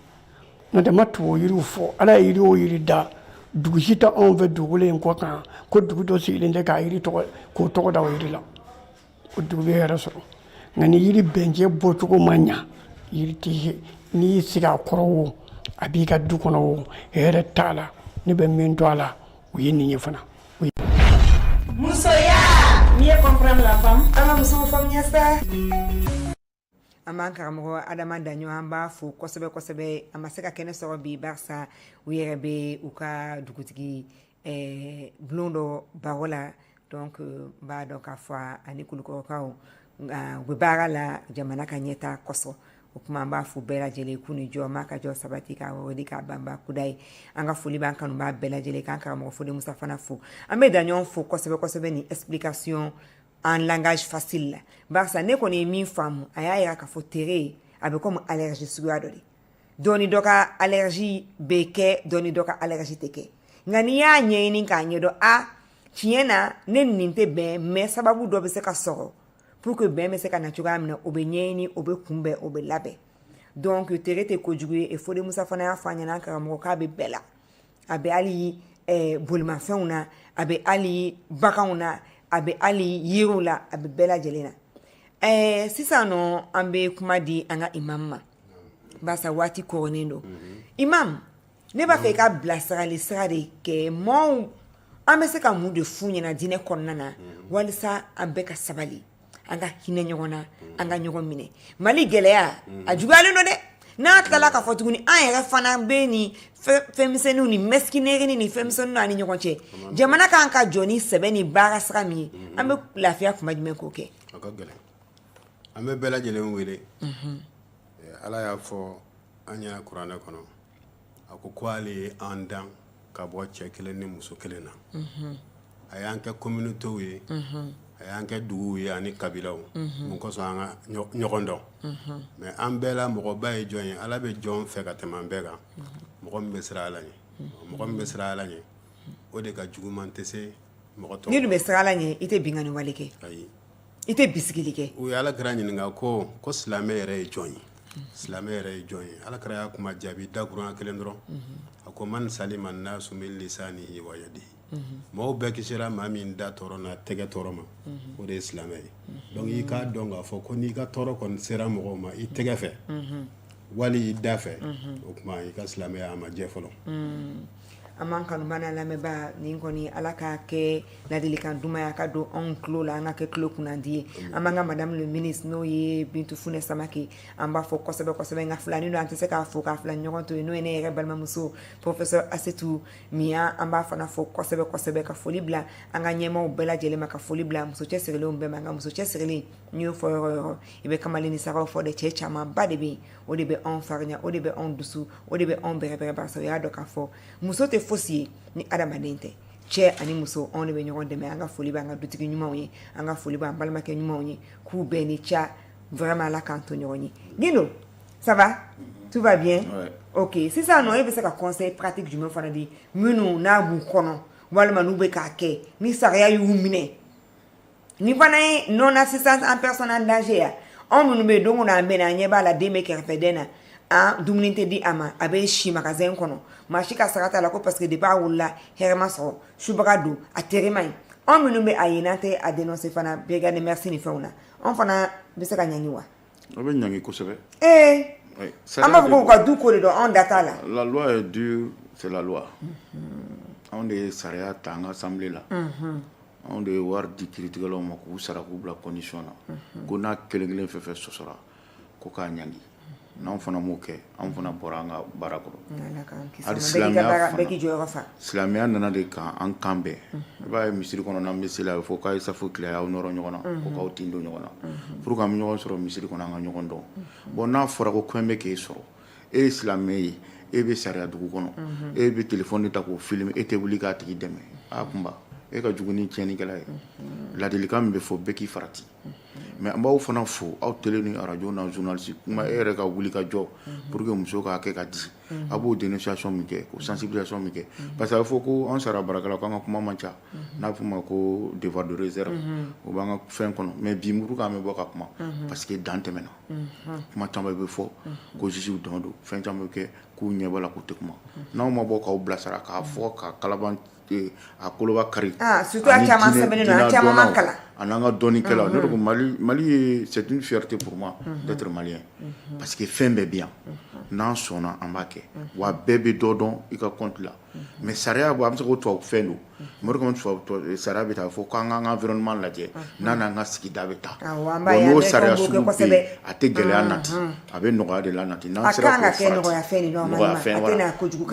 n'o tɛ n ma tubabu yiriw fɔ ala ye yiri o yiri da dugu si tɛ anw fɛ dugukolo in kɔ kan ko dugu dɔ sigilen tɛ k'a yiri tɔgɔ k'o tɔgɔ da o yiri la o dugu bɛ hɛrɛ sɔrɔ nka ni yiri bɛnjɛ bɔcogo ma ɲa yiri tɛ n'i y'i sigi a kɔrɔ wo a b'i ka du kɔnɔ wo hɛrɛ t'a la ne bɛ min dɔn a la o ye nin ye fana. musoya mieux comprendre la femme an ka musow faamuya sa. an b'an karamɔgɔ adama daɲɔgɔ an b'a fo kosɛbɛ kosɛbɛ a ma se ka kɛnɛ sɔrɔ bi barisa u yɛrɛ bɛ u ka dugutigi eh, bulon dɔ baro la donc n b'a dɔn k'a fɔ ani kulukɔrɔkaw nka u bɛ baara la jamana ka ɲɛta kosɔn o kuma an b'a fo bɛɛ lajɛlen k'u ni jɔ ma ka jɔ sabati k'a wawadi k'a banba kudayi an ka foli b'an kanubaa bɛɛ lajɛlen k'an karamɔgɔ foli musa fana fo an bɛ daɲɔgɔ fo kosɛbɛ kosɛbɛ ni explication en langage facile la barisa ne kɔni ye min faamu a y'a yira k'a fɔ tere ye a bɛ komi allergie suguya dɔ de dɔɔni dɔ ka allergie bɛ kɛ dɔɔni dɔ ka allergie tɛ kɛ nka n'i y'a ɲɛɲini k'a ɲɛdɔn a tiɲɛ na ne nin tɛ bɛn mais sababu dɔ bɛ se ka sɔrɔ pour que bɛn bɛ se ka na cogoya min na o bɛ ɲɛɲini o bɛ kunbɛn o bɛ labɛn donc tere tɛ kojugu ye e fode musa fana y'a fɔ an ɲɛna karamɔgɔ k'a bɛ bɛɛ la a bɛ hali eh, bolimafɛnw na a bɛ hali baganw na a bɛ hali yiriw la a bɛ bɛɛ lajɛlen na eh, sisan nɔ an bɛ kuma di an ka imam ma barisa waati koronnen don imam ne b'a fɛ i ka bilasirali sira de kɛ mɔɔw an bɛ se ka mun de f'u ɲɛna diinɛ kɔnɔna na walisa an bɛɛ ka sabali an ka hinɛ ɲɔgɔn na an ka ɲɔgɔn minɛ mali gɛlɛya a juguyalen don dɛ n'a tilala ka fɔ tuguni an yɛrɛ fana bɛ ni fɛnmisɛnninw ni mesquinerie ni fɛnmisɛnninw an ni ɲɔgɔn cɛ jamana kan ka jɔ ni sɛbɛ ni baara sira min ye an bɛ lafiya kuma jumɛn ko kɛ an bɛ bɛɛ lajɛlen wele ala y'a fɔ an ɲɛna kuranɛ kɔnɔ a ko ko ale ye an dan ka bɔ cɛ kelen ni muso kelen na a y'an kɛ communautéw ye a y'an kɛ duguw ye ani kabilaw mun kosɔn an ka ɲɔgɔn dɔn mais an bɛɛ la mɔgɔba ye jɔn ye ala bɛ jɔn fɛ ka tɛmɛ an bɛɛ kan mɔgɔ min bɛ siran ala ɲɛ mɔgɔ min bɛ siran ala ɲɛ o de ka juguman tɛ se mɔgɔ tɔw n'i dun bɛ siran ala ɲɛ i tɛ binkanni wale kɛ ayi i tɛ bisigili kɛ u ye ala kira ɲininka ko ko silamɛ yɛrɛ ye jɔn ye silamɛ yɛrɛ ye jɔn ye ala kira ye kuma jaabi dakurunɲa kelen dɔrɔn a ko man salima nasu min lisanihi wa yadihi maaw bɛɛ kisira maa min da tɔɔrɔ n'a tɛgɛ tɔɔrɔ ma o de ye silamɛ ye donc i k'a dɔn k'a fɔ ko n'i ka tɔɔrɔ kɔni sera mɔgɔw ma i tɛgɛ fɛ wali i da fɛ o kuma i ka silamɛya a ma jɛ fɔlɔ An b'an kanubaa n'an lamɛnbaa nin kɔni ala k'a kɛ ladilikan duman ye a ka don anw tulo la an ka kɛ tulo kunandi ye an b'an ka madame le ministre n'o ye bintu funɛ samakɛ an b'a fo kɔsɛbɛsɛbɛ nka filanin don an tɛ se k'a fo k'a filanin ɲɔgɔn to yen n'o ye ne yɛrɛ balimamuso professeur asetu migan an b'a fana fo kɔsɛbɛsɛbɛ ka foli bila an ka ɲɛmaaw bɛɛ lajɛlen ma ka foli bila muso cɛsirilen bɛɛ ma nka muso cɛsirilen n'i y'o fɔ yɔrɔ yɔrɔ i bɛ kamalennin sara fo de cɛ camanba de bɛ yen o de bɛ anw farinya o de bɛ anw dusu o de bɛ anw bɛrɛbɛrɛ barisa o y'a dɔn k'a fɔ muso tɛ fosi ye ni adamaden tɛ cɛ ani muso anw de bɛ ɲɔgɔn dɛmɛ an ka foli b'an ka dutigi ɲumanw ye an ka foli b'an balimakɛ ɲumanw ye k'u bɛɛ ni ca vraiment ala k'an to ɲɔgɔn ye gindo ça va tout va bien ouais. ok sisan nɔ e bɛ se ka conseil pratique jumɛn fana di minnu n'a b'u kɔnɔ walima n'u bɛ k'a kɛ ni sariya y'u minɛ Nin fana ye non assistance en personne en danger ye anw minnu bɛ don o don an bɛ na an ɲɛ b'a la den bɛ kɛrɛfɛ den na an dumuni tɛ di a ma a bɛ si magasin kɔnɔ maa si ka sara t'a la ko parce que depuis a wolola hɛrɛ ma sɔrɔ subaga don a tere man ɲi anw minnu bɛ a ye n'an tɛ a dénoncer fana brigade des mœurs ni fɛnw na anw fana bɛ se ka ɲangi wa a bɛ ɲangi kosɛbɛ ee an b'a fɔ k'u ka du ko de don anw da t'a la la loi est dure c'est la loi anw de ye sariya ta an ka assemblée la anw de ye wari di kiritigɛlaw ma k'u sara k'u bila condition na ko n'a kelen kelen fɛn fɛn sɔsɔra ko k'a ɲangi n'anw fana m'o kɛ anw fana bɔra an ka baara kɔrɔ hali silamɛya fana silamɛya nana de kan an ka bɛn i b'a ye misiri kɔnɔ n'an bɛ seli a bɛ fɔ k'a ye safu tilen a y'aw nɔrɔ ɲɔgɔn na ko k'aw tin don ɲɔgɔn na pour que an bɛ ɲɔgɔn sɔrɔ misiri kɔnɔ an ka ɲɔgɔn dɔn bon n'a fɔra ko ko in bɛ k'e sɔrɔ e ye silamɛ ye e bɛ sariya dugu kɔnɔ e bɛ téléphone de ta k'o filmer e tɛ wuli k'a tigi dɛmɛ a kunba e ka jugu ni tiɲɛnlikɛla ye ladilikan min bɛ fɔ bɛɛ k'i farati mais an b'aw fana fo aw télé ni radio journaliste kuma e yɛrɛ ka wuli ka jɔ pour que muso k'a kɛ ka di a b'o dénonciation min kɛ ko sensibilisation min kɛ parce que a bɛ fɔ ko an sariya baarakɛlaw k'an ka kuma man ca n'a fɔ ma ko devoir de réserve o b'an ka fɛn kɔnɔ mais bi mun kan an bɛ bɔ ka kuma parce que dan tɛmɛna kuma caman bɛ fɔ ko jugew dɔn don fɛn caman bɛ kɛ k'u ɲɛ b'a la k'u tɛ kuma n'aw ma bɔ k'aw bilasira k'a fɔ ka kalan a koloba kari ah, an n'an ka dɔnnikɛla ne ko mali ye c'est une fierté pour moi d'être malien parce que fɛn bɛɛ bɛ yan n'an sɔnna an b'a kɛ wa bɛɛ bɛ dɔ dɔn i ka côté mais sariya bɔ an bɛ se ko tubabu fɛn don mori sariya bɛ taa fɔ k'an k'an ka environnement lajɛ n'an n'an ka sigida bɛ taa n'o sariya a tɛ gɛlɛya nati a bɛ nɔgɔya de la nati n'an sera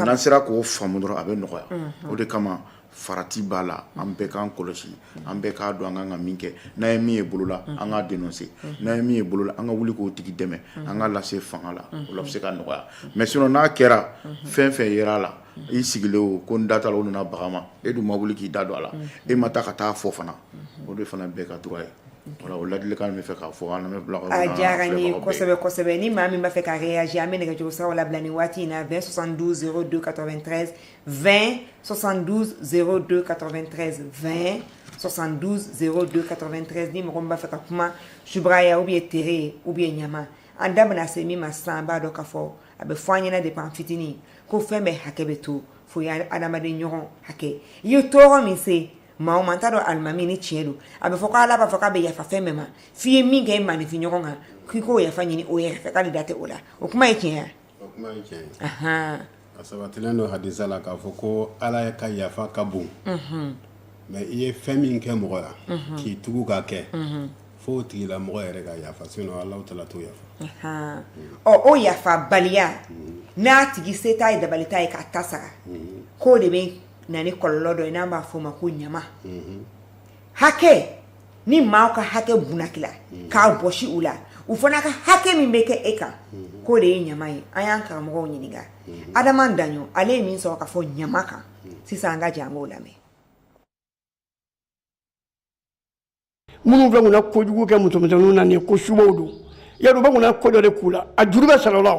n'an sera k'o faamu dɔrɔn a bɛ nɔgɔya o de kama farati b'a la an bɛɛ k'an kɔlɔsi an bɛɛ k'a dɔn an kan ka min kɛ n'an ye min ye bolo la an k'a dénoncer n'an ye min ye bolo la an ka wuli k'o tigi dɛmɛ an k'a lase fanga la o bɛ se ka nɔgɔya mais sinon n'a kɛra fɛn fɛn ye a la i sigilen o ko n da t'a la o nana baga ma e dun ma wuli k'i da don a la e ma taa ka taa fɔ fana o de fana bɛɛ ka droit ye o ladilikan n b'a fɛ k'a fɔ a diyara n ye kosɛbɛ kosɛbɛ ni maa min b'a fɛ ka réagir an bɛ nɛgɛjuru siraw labila nin waati in na 20 72 02 93 20 72 02 93 20 72 02 93 ni mɔgɔ min b'a fɛ ka kuma subagaya ou bien tere ou bien ɲama an da bɛna se min ma sisan an b'a dɔn k'a fɔ a bɛ fɔ an ɲɛna depuis an fitini ko fɛn bɛɛ hakɛ bɛ to fo ye adamaden ɲɔgɔn hakɛ i ye tɔɔrɔ min se maa o maa n t'a dɔn alimami ni tiɲɛ don a bɛ fɔ ko ala b'a fɔ k'a bɛ yafa fɛn bɛɛ ma f'i ye min kɛ i maaninfin ɲɔgɔn kan k'i k'o yafa ɲini o yɛrɛ fɛ k'ale da tɛ o la o kuma ye tiɲɛ ye O kuma ye tiɲɛ ye, anhan, a sabatilen don hadisa la k'a fɔ ko Ala ka yafa ka bon, unhun, mais i ye fɛn min kɛ mɔgɔ la, unhun, k'i tugu k'a kɛ, unhun, fo o tigila mɔgɔ yɛrɛ ka yafa sinon Alahu taala t'o yafa, anhan, ɔ o yafabaliya n'a tigi se t'a ye dabali t'a ye k'a ta sara, unhun, k'o de bɛ na ni kɔlɔlɔ dɔ ye n'an b'a fɔ o ma ko ɲama, unhun, hakɛ ni maaw ka hakɛ bunakila k'a bɔsi u la u fana ka hakɛ min bɛ kɛ e kan k'o de ye ɲama ye an y'an karamɔgɔ ɲininka adama daɲɔgɔ ale ye min sɔrɔ ka fɔ ɲama kan sisan an ka jɛn k'o lamɛn minnu fɛ kunna kojugu kɛ musomisɛnninw na nin ko subaw don yadɔ bɛ kunna ko dɔ de k'u la a juru bɛ sara la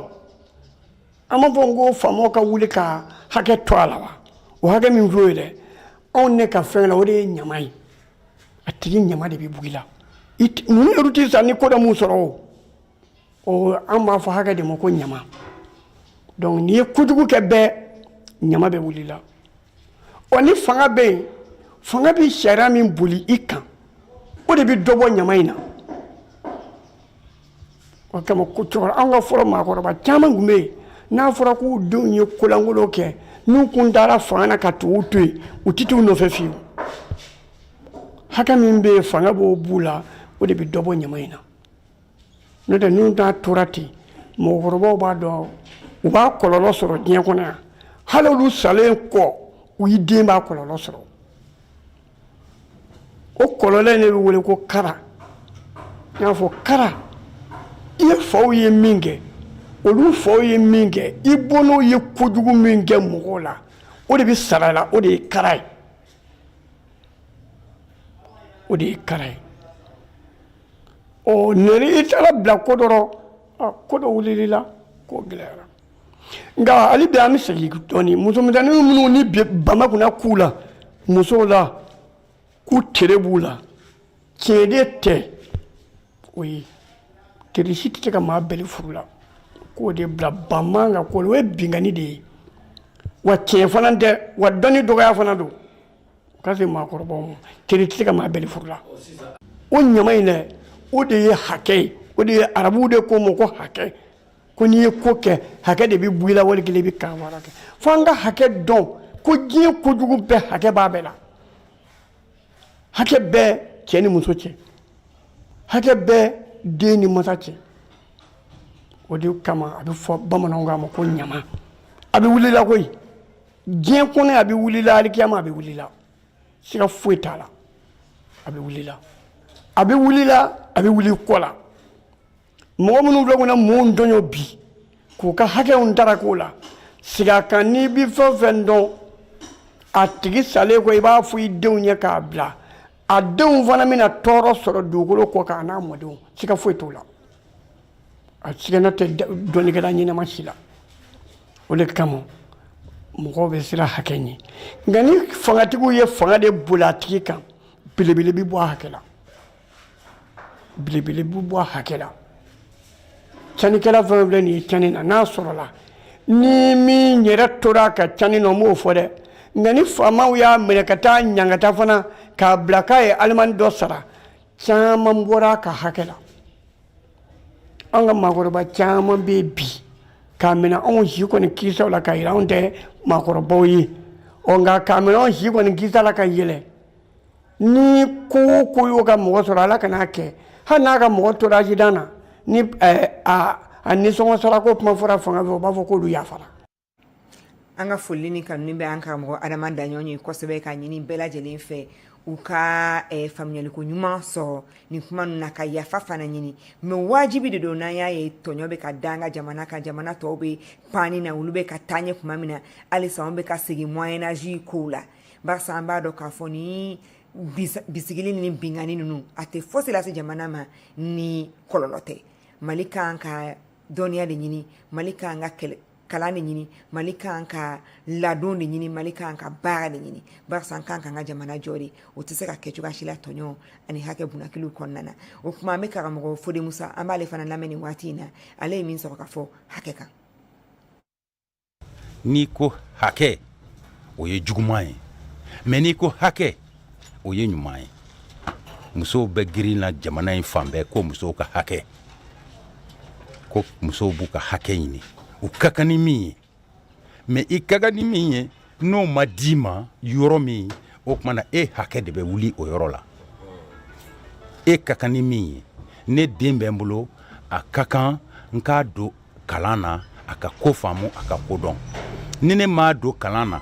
an b'a fɔ ko faamaw ka wuli ka hakɛ to a la wa o hakɛ min filɛ ye dɛ anw ne ka fɛla o de ye ɲama ye a tigi ɲama de bɛ bugi la ninnu yɛrɛ tɛ sa ni ko dɔ m'u sɔrɔ o o an b'a fɔ hakɛ de ma ko ɲama donc n'i ye kojugu kɛ bɛɛ ɲama bɛ wuli la ɔ ni fanga bɛ yen fanga bɛ sariya min boli i kan o de bɛ dɔ bɔ ɲama in na o kama ko cɛkɔrɔba an ka fɔlɔ maakɔrɔba caman tun bɛ yen n'a fɔra k'u denw ye kolankolon kɛ n'u kun taara fanga na ka tugu to yen u tɛ t'u nɔfɛ fiyewu hakɛ min bɛ yen fanga b'o b'u la o de bɛ dɔ bɔ ɲama in na n'o tɛ n'a tora ten mɔgɔkɔrɔbaw b'a dɔn u b'a kɔlɔlɔ sɔrɔ diɲɛ kɔnɔ yan hali olu salen kɔ u y'i den b'a kɔlɔlɔ sɔrɔ o kɔlɔlɔ in de bɛ wele ko kara n'i y'a fɔ kara i ye faw ye min kɛ olu faw ye min kɛ i bɔnnaw ye kojugu min kɛ mɔgɔw la o de bɛ sara la o de ye kara ye o de ye kara ye ɔ nɛri i taara bila ko dɔ rɔ ko dɔ wulil'i la k'o gɛlɛyara nka hali bi an bɛ segin dɔɔni musomisɛnnin minnu ni bama kunna k'u la musow la ko tere b'u la tiɲɛ de tɛ o ye tere si tɛ se ka maa bɛli furu la k'o de bila bama ka ko o ye binkanni de ye wa tiɲɛ fana tɛ wa dɔnni dɔgɔya fana don ka se maakɔrɔbaw ma tere tɛ se ka maa bɛli furu la o ɲama in dɛ o de ye hakɛ ye o de ye arabuw de k'o ma ko hakɛ ko n'i ye ko kɛ hakɛ de bɛ bɔ i la wali kelen i bɛ kan wɛrɛ kɛ fo an ka hakɛ dɔn ko diɲɛ kojugu bɛɛ hakɛ b'a bɛɛ la hakɛ bɛ cɛ ni muso cɛ hakɛ bɛ den ni masa cɛ o de kama a bɛ fɔ bamananw k'a ma ko ɲama a bɛ wuli la koyi diɲɛ kɔnɔ a bɛ wuli la alikiyama a bɛ wuli la siga foyi t'a la a bɛ wuli la a bɛ wuli la a bɛ wuli kɔ la mɔgɔ minnu filɛ kɔnɔ mɔgɔw tɔɲɔ bi k'u ka hakɛw ntarako la sigi a kan n'i bi fɛn fɛn dɔn a tigi salen kɔ i b'a fɔ i denw ye k'a bila a denw fana bɛna tɔɔrɔ sɔrɔ dugukolo kɔ kan a n'a mɔdenw siga foyi t'o la a sigana tɛ dɔnnikɛla ɲɛnama si la o de kama mɔgɔw bɛ siran hakɛ ɲɛ nka ni fangatigiw ye fanga de boli a tigi kan belebele bɛ bɔ a hakɛ la belebele bɛ bɔ a hakɛ la canikɛla fɛn o fɛn nin ye cani na n'a sɔrɔla ni min yɛrɛ tora a ka cani na n m'o fɔ dɛ nka ni faamaw y'a minɛ ka taa ɲangata fana k'a bila k'a ye alimani dɔ sara caman bɔra a ka hakɛ la an ka maakɔrɔba caman bɛ yen bi k'a minɛ anw si kɔni kisa la ka yɛlɛ anw tɛ maakɔrɔbaw ye ɔ nka k'a minɛ anw si kɔni kisa la ka yɛlɛ ni ko o ko y'o ka mɔgɔ sɔrɔ ala kan'a kɛ hali n'a ka mɔgɔ tora accident na ni a nisɔngɔ sarako kuma fɔra fanga fɛ o b'a fɔ k'olu yafara an ka foli ni tanu bɛ an karamɔgɔ adama daɲɔn ye kosɛbɛ ka ɲini bɛɛ lajɛlen fɛ u ka eh, faamuyaliko ɲuman sɔrɔ nin kuma ninnu na ka yafa fana ɲini mɛ wajibi de don n'an y'a ye tɔɲɔ bɛ ka da an ka jamana kan jamana tɔw bɛ pani na olu bɛ ka taa ɲɛ kuma min na halisa anw bɛ ka segin moyen âge kow la Barisa an b'a dɔn k'a fɔ ni bisigili ni binkanni ninnu a tɛ fosi lase jamana ma ni kɔlɔlɔ tɛ mali kan ka dɔnniya de ɲini mali kan ka kalan de ɲini mali kan ka ladon de ɲini mali kan ka baara de ɲini barisa an kan ka ka jamana jɔ de o tɛ se ka kɛ cogoya si la tɔɲɔ ani hakɛ bunakili kɔnɔna na o kuma an bɛ karamɔgɔ fode musa an b'ale fana lamɛn nin waati in na ale ye min sɔrɔ ka fɔ hakɛ kan n'i ko hakɛ o ye juguman ye mɛ n'i ko hakɛ o ye ɲuman ye musow bɛ girin na jamana in fan bɛɛ ko musow ka hakɛ ko musow b'u ka hakɛ ɲini u ka kan ni min ye mɛ i ka kan ni min ye n'o ma d'i ma yɔrɔ min o tuma na e hakɛ de bɛ wuli o yɔrɔ la e ka kan ni min ye ne den bɛ n bolo a ka kan n k'a don kalan na a ka ko faamu a ka ko dɔn ni ne m'a don kalan na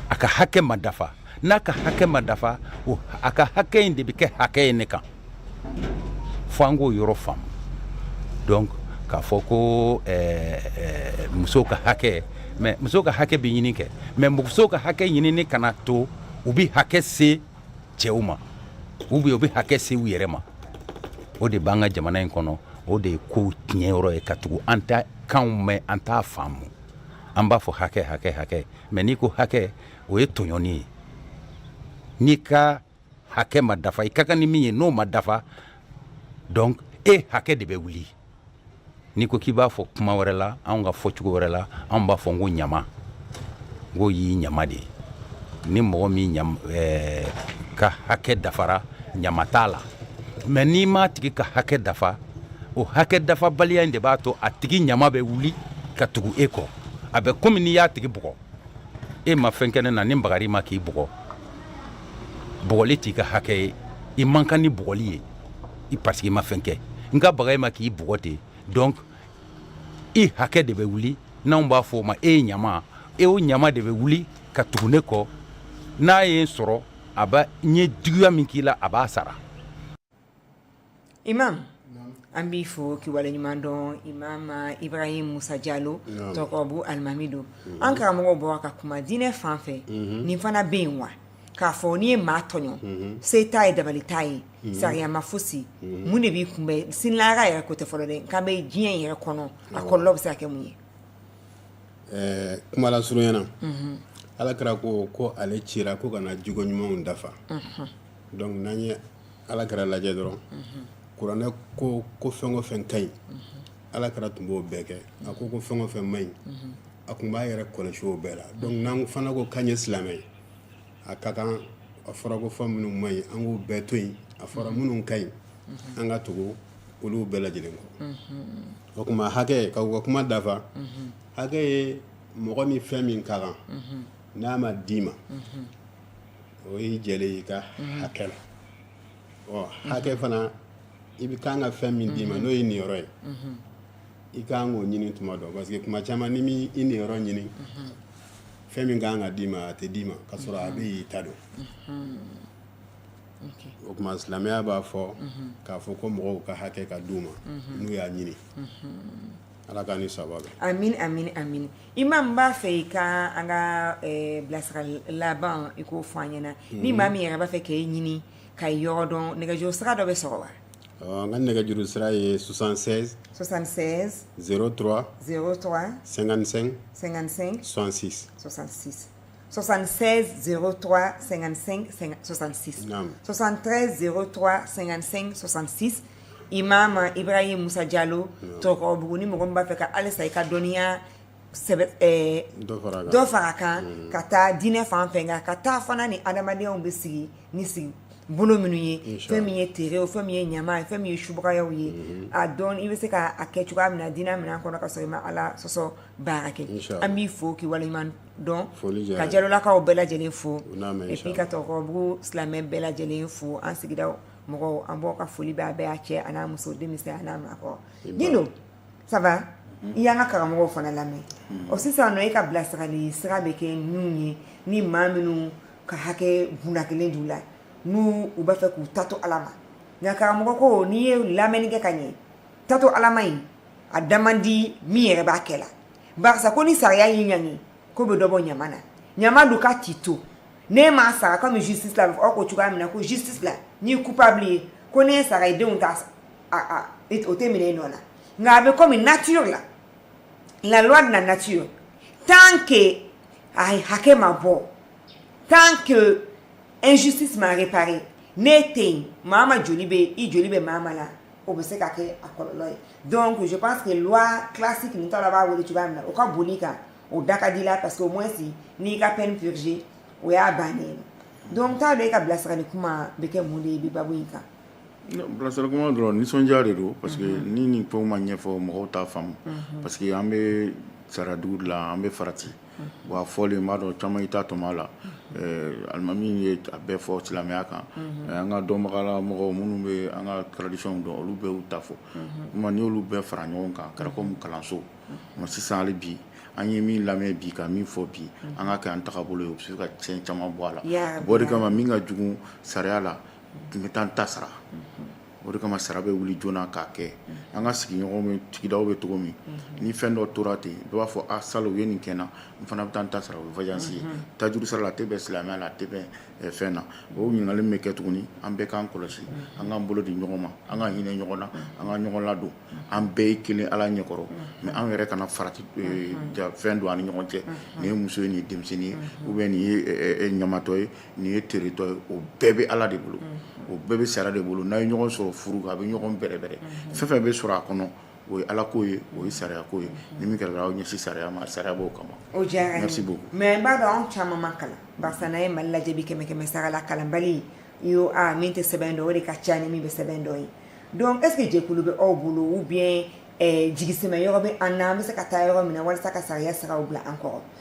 a ka hakɛ ma dafa n'a ka hakɛ ma dafa a ka hakɛ in de bɛ kɛ hakɛ ye ne kan fo an k'o yɔrɔ faamu donc k'a fɔ ko eh, eh, musow ka hakɛ mɛ musow ka hakɛ bɛ ɲini kɛ mɛ musow ka hakɛ ɲinini kana to u bɛ hakɛ se cɛw ma ou bien u bɛ hakɛ se u yɛrɛ ma o de b'an ka jamana in kɔnɔ o de ye kow tiɲɛ yɔrɔ ye ka tugu an t'a kanw mɛn an t'a faamu an b'a fɔ hakɛ hakɛ hakɛ mais n'i ko hakɛ o ye tɔɲɔni ye n'i ka hakɛ ma dafa i ka kan ni min ye n'o ma dafa donc e hakɛ de bɛ wuli n'i ko k'i b'a fɔ kuma wɛrɛ la anw ka fɔcogo wɛrɛ la anw b'a fɔ n ko ɲama n ko y'i ɲama de ye ni mɔgɔ min eh, ka hakɛ dafara ɲama t'a la mais n'i m'a tigi ka hakɛ dafa o hakɛ dafabaliya in de b'a to a tigi ɲama bɛ wuli ka tugu e kɔ a bɛ komi n'i y'a tigi bugɔ e ma fɛn kɛ ne na ni n bagar'i ma k'i bugɔ bugɔli t'i ka hakɛ ye i man kan ni bugɔli ye i parce que i ma fɛn kɛ n ka baga i ma k'i bugɔ ten donc i hakɛ de bɛ wuli n'anw b'a fɔ o ma e ye ɲama e o ɲama de bɛ wuli ka tugu ne kɔ n'a ye n sɔrɔ a b'a n ye juguya min k'i la a b'a sara imam an b'i fo k'i waleɲuman dɔn imam Ibrahim Musa Jalo Tɔrɔkɔrɔbugu alimami don an karamɔgɔ bɔra ka kuma diinɛ fan fɛ nin fana bɛ yen wa k'a fɔ n'i ye maa tɔɲɔ se t'a ye dabali t'a ye sariya ma fosi mun de b'i kunbɛn sini lahara yɛrɛ ko tɛ fɔlɔ dɛ n kan bɛ diɲɛ yɛrɛ kɔnɔ a kɔlɔlɔ bɛ se ka kɛ mun ye ɛɛ kuma lasurunya na ala kira ko ko ale cira ko ka na jogo ɲumanw dafa Donc n'an ye ala kira lajɛ dɔrɔn kuranɛ ko ko fɛn o fɛn ka ɲi ala kira tun b'o bɛɛ kɛ a ko ko fɛn o fɛn man ɲi a tun b'a yɛrɛ kɔlɔsi o bɛɛ la donc n'an fana ko k'an ye silamɛ ye a ka kan a fɔra ko fɛn minnu man ɲi an k'u bɛɛ to yen a fɔra minnu ka ɲi an ka tugu olu bɛɛ lajɛlen kɔ o tuma hakɛ k'u ka kuma dafa hakɛ ye mɔgɔ ni fɛn min ka kan n'a ma d'i ma o y'i jɛlen i ka hakɛ la hakɛ fana i bɛ kan ka fɛn min d'i ma n'o y'i niyɔrɔ ye i ka kan k'o ɲini tuma dɔ parce que tuma caman n'i m'i niyɔrɔ ɲini fɛn min ka kan ka d'i ma a tɛ d'i ma ka sɔrɔ a bɛ yen i ta don o tuma silamɛya b'a fɔ k'a fɔ ko mɔgɔw ka hakɛ ka d'u ma n'u y'a ɲini Ala k'an ni sababu bɛn amin amin amin imam n b'a fɛ i ka an ka bilasira laban i k'o fɔ an ɲɛna ni maa min yɛrɛ b'a fɛ k'i ɲini k'i yɔrɔ dɔn nɛgɛjuru sira dɔ bɛ sɔrɔ wa n ka nɛgɛjuru sira ye soixante-seize zéro trois cinquante-cinq soixante-six 76035566 imamu ibrahim musa jalo tɔgɔbugu ni mɔgɔ b'a fɛ ka halisa i ka dɔnniya dɔ fara kan ka taa diinɛ fan fɛ nka ka taa fana ni adamadenw bɛ sigi ni sigi bolo minnu ye fɛn min ye tere ye fɛn min ye ɲama ye fɛn min ye subaya ye a dɔn i bɛ se k'a kɛ cogoya min na diinɛ minɛn kɔnɔ ka sɔrɔ i ma ala sɔsɔ baara kɛ an b'i fo k'i wale dɔn ka jalolakaw bɛɛ lajɛlen fo epi ka tɔgɔbugu silamɛ bɛɛ lajɛlen fo an sigida mɔgɔw an b'aw ka foli bɛ a bɛɛ a cɛ a n'a muso denmisɛn a n'a maakɔrɔ dindo ça va i y'an ka karamɔgɔ fana lamɛn o sisan nɔ e ka bilasirali sira bɛ kɛ ninnu ye ni maa minnu ka hakɛ bna kɛlen d'u la n'u u b'a fɛ k'u ta to ala ma nka karamɔgɔ ko n'i ye lamɛnni kɛ ka ɲɛ ta to ala ma in a da man di min yɛrɛ b'a kɛ la barisa ko ni sariya y'i ɲangi k'o bɛ dɔ bɔ ɲama na ɲama dun ka t'i to n'i m'a sara komi justice la aw ko cogoya min na ko justice la n'i coupable ye ko n'i sara i denw ta o tɛ minɛ i nɔ la nka a bɛ komi nature la la loi de la nature tant que a hakɛ ma bɔ tant que injustice ma réparé n'i tɛ yen maa ma joli bɛ i joli bɛ maa ma la o bɛ se ka kɛ a kɔlɔlɔ ye donc je pense que loi classique ninnu ta la b'a wele cogoya min na o ka boli kan o da ka di la parce que au moins n'i ka peine purgée o y'a bannen donc t'a dɔn e ka bilasirali kuma bɛ kɛ mun de ye bi babu in kan bilasirali kuma dɔrɔn nisɔndiya de don parce que mhm. ni nin fɛnw ma ɲɛfɔ mɔgɔw t'a faamu mhm. parce que an bɛ sariyadugu de la an bɛ farati wa fɔlen b'a dɔn caman i ta tɔmɔ a la alimami ye a bɛɛ fɔ silamɛya kan an ka dɔnbagala mɔgɔw minnu bɛ an ka tradition dɔn olu bɛɛ y'u ta fɔ kuma n'i y'olu bɛɛ fara ɲɔgɔn kan kɛra komi kalanso ma sisan hali bi an ye min lamɛn bi ka min fɔ bi an ka kɛ an tagabolo ye o bɛ se ka cɛn caman bɔ a la o de kama min ka jugu sariya la tun bɛ taa n ta sara o de kama sariya bɛ wuli joona k'a kɛ an ka sigiɲɔgɔnw bɛ sigidaw bɛ cogo min ni fɛn dɔ tora ten dɔ b'a fɔ a salo u ye nin kɛ n na n fana bɛ taa n ta sara o ye vajansi ye tajuru sara la a tɛ bɛn silamɛya la a tɛ bɛn fɛn na o ɲininkali min bɛ kɛ tuguni an bɛɛ k'an kɔlɔsi an k'an bolo di ɲɔgɔn ma an ka hinɛ ɲɔgɔn na an ka ɲɔgɔn ladon an bɛɛ ye kelen ala ɲɛkɔrɔ mɛ an yɛrɛ kana farati fɛn don an ni ɲɔgɔn cɛ nin ye muso ye nin ye denmisɛnnin ye ou bien nin ye ɲamatɔ ye Nin ye teretɔ ye o bɛɛ bɛ ala de bolo o bɛɛ bɛ sariya de bolo n'a ye ɲɔgɔn sɔrɔ furu a bɛ ɲɔgɔn bɛrɛbɛrɛ fɛn fɛn bɛ sɔrɔ a kɔnɔ o ye ala ko ye o ye sariya ko ye ni min kɛra aw ɲɛsin sariya ma sariya b'o kama o mɛ n b'a dɔn anw caman ma kalan barisa n'an ye mali lajɛ bi kɛmɛ kɛmɛsara la kalanbali ye o min tɛ sɛbɛn dɔn o de ka ca ni min bɛ sɛbɛn dɔn ye donc est-ce que jɛkulu bɛ aw bolo ou bien jigisɛmɛ yɔrɔ bɛ an na an bɛ se ka taa yɔrɔ min na walasa ka sariya sira bila an kɔrɔ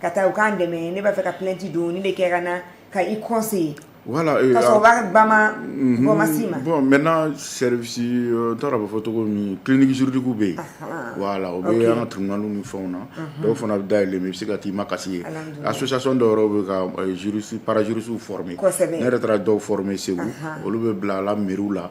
ka taa u k'an dɛmɛ ne b'a fɛ ka plainte don ne bɛ kɛ ka na ka i conseiller voilà bama bɔmasi ma bon maintenant service n taara bɛ fɔ tɔgɔ min clinique juridique bɛ yen voilà o bɛ an ka tribunal ni fɛnw na dɔw fana bɛ da yɛlɛ bɛ se ka taa i makasi yen association dɔw yɛrɛ bɛ ka juristes parajuristesw former ne yɛrɛ taara dɔw former segu olu bɛ bila la mairie la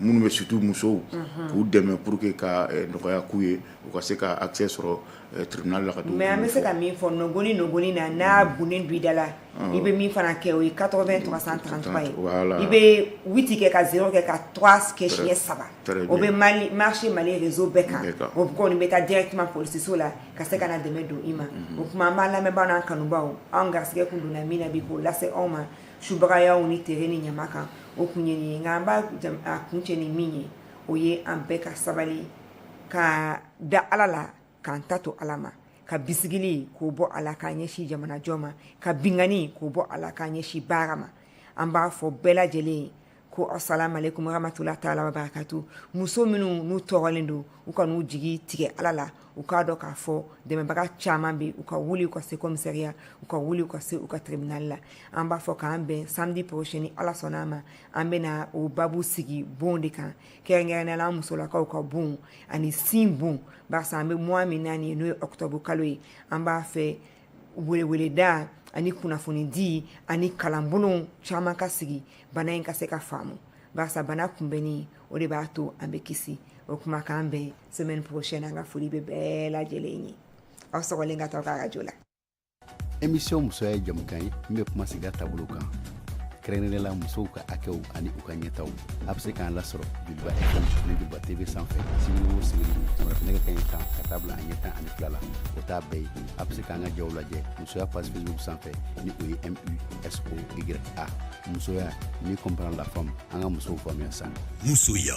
minnu bɛ surtout musow k'u dɛmɛ pur que ka nɔgɔya k'u ye u ka se ka accès sɔrɔ tribunal la ka mais an bɛ se ka min fɔ nɔgɔni nɔgɔni na n'a bonnen don i da la i bɛ min fana kɛ o ye quatre-vingt trois cent trente-trois ye i bɛ huit kɛ ka zéro kɛ ka trois kɛ siɲɛ saba o bɛ marcher mali réseau bɛɛ kan o kɔni bɛ taa directement polisiso la ka se ka na dɛmɛ don i ma o kuma an b'a lamɛnbaaw n'an kanubaw an garisigɛ kun donna min na bi k'o lase aw ma subagayaw ni tere ni ɲama kan o kun ye nin ye nka an b'a kuncɛ ni min ye o ye an bɛɛ ka sabali ka da ala la k'an ta to ala ma ka bisigili k'o bɔ a la k'an ɲɛsin jamanajɔ ma ka binkanni k'o bɔ a la k'an ɲɛsin baara ma an b'a fɔ bɛɛ lajɛlen ye ko asalamu alekum warahamatulayi taala wabarakatu muso minnu n'u tɔɔrɔlen don u kan'u jigi tigɛ ala la u k'a dɔn k'a fɔ dɛmɛbaga caman bɛ u ka wuli u ka se kɔmisariya u ka wuli u ka se u ka tribinali la an b'a fɔ k'an bɛn samedi prochain ni ala sɔnna a ma an bɛna o babu sigi bon de kan kɛrɛnkɛrɛnnenya la an musolakaw ka bon ani sin bon barisa an bɛ mois min na nin ye n'o ye ɔkutɔbu kalo ye an b'a fɛ weleweleda ani kunnafonidi ani kalanbolo caman ka sigi bana in ka se ka faamu barisa bana kunbɛnni o de b'a to an bɛ kisi o kuma k'an bɛn semaine prochaine an ka foli bɛ bɛɛ lajɛlen ye aw sɔgɔlen ka taa ka arajo la émission musoya ye jɛmukan ye min bɛ kuma sigida taabolo kan kɛrɛnkɛrɛnnenya la musow ka hakɛw ani u ka ɲɛtaw a bɛ se k'an lasɔrɔ joliba fm ni joliba tv sanfɛ sibiri o sibiri sɔgɔma fɛ nɛgɛ kanɲɛ tan ka taa bila a ɲɛ tan ani fila la o t'a bɛɛ ye a bɛ se k'an ka jaw lajɛ musoya page facebook sanfɛ ni o ye musoya musoya ni comprendre la femme an ka musow faamuya sa musoya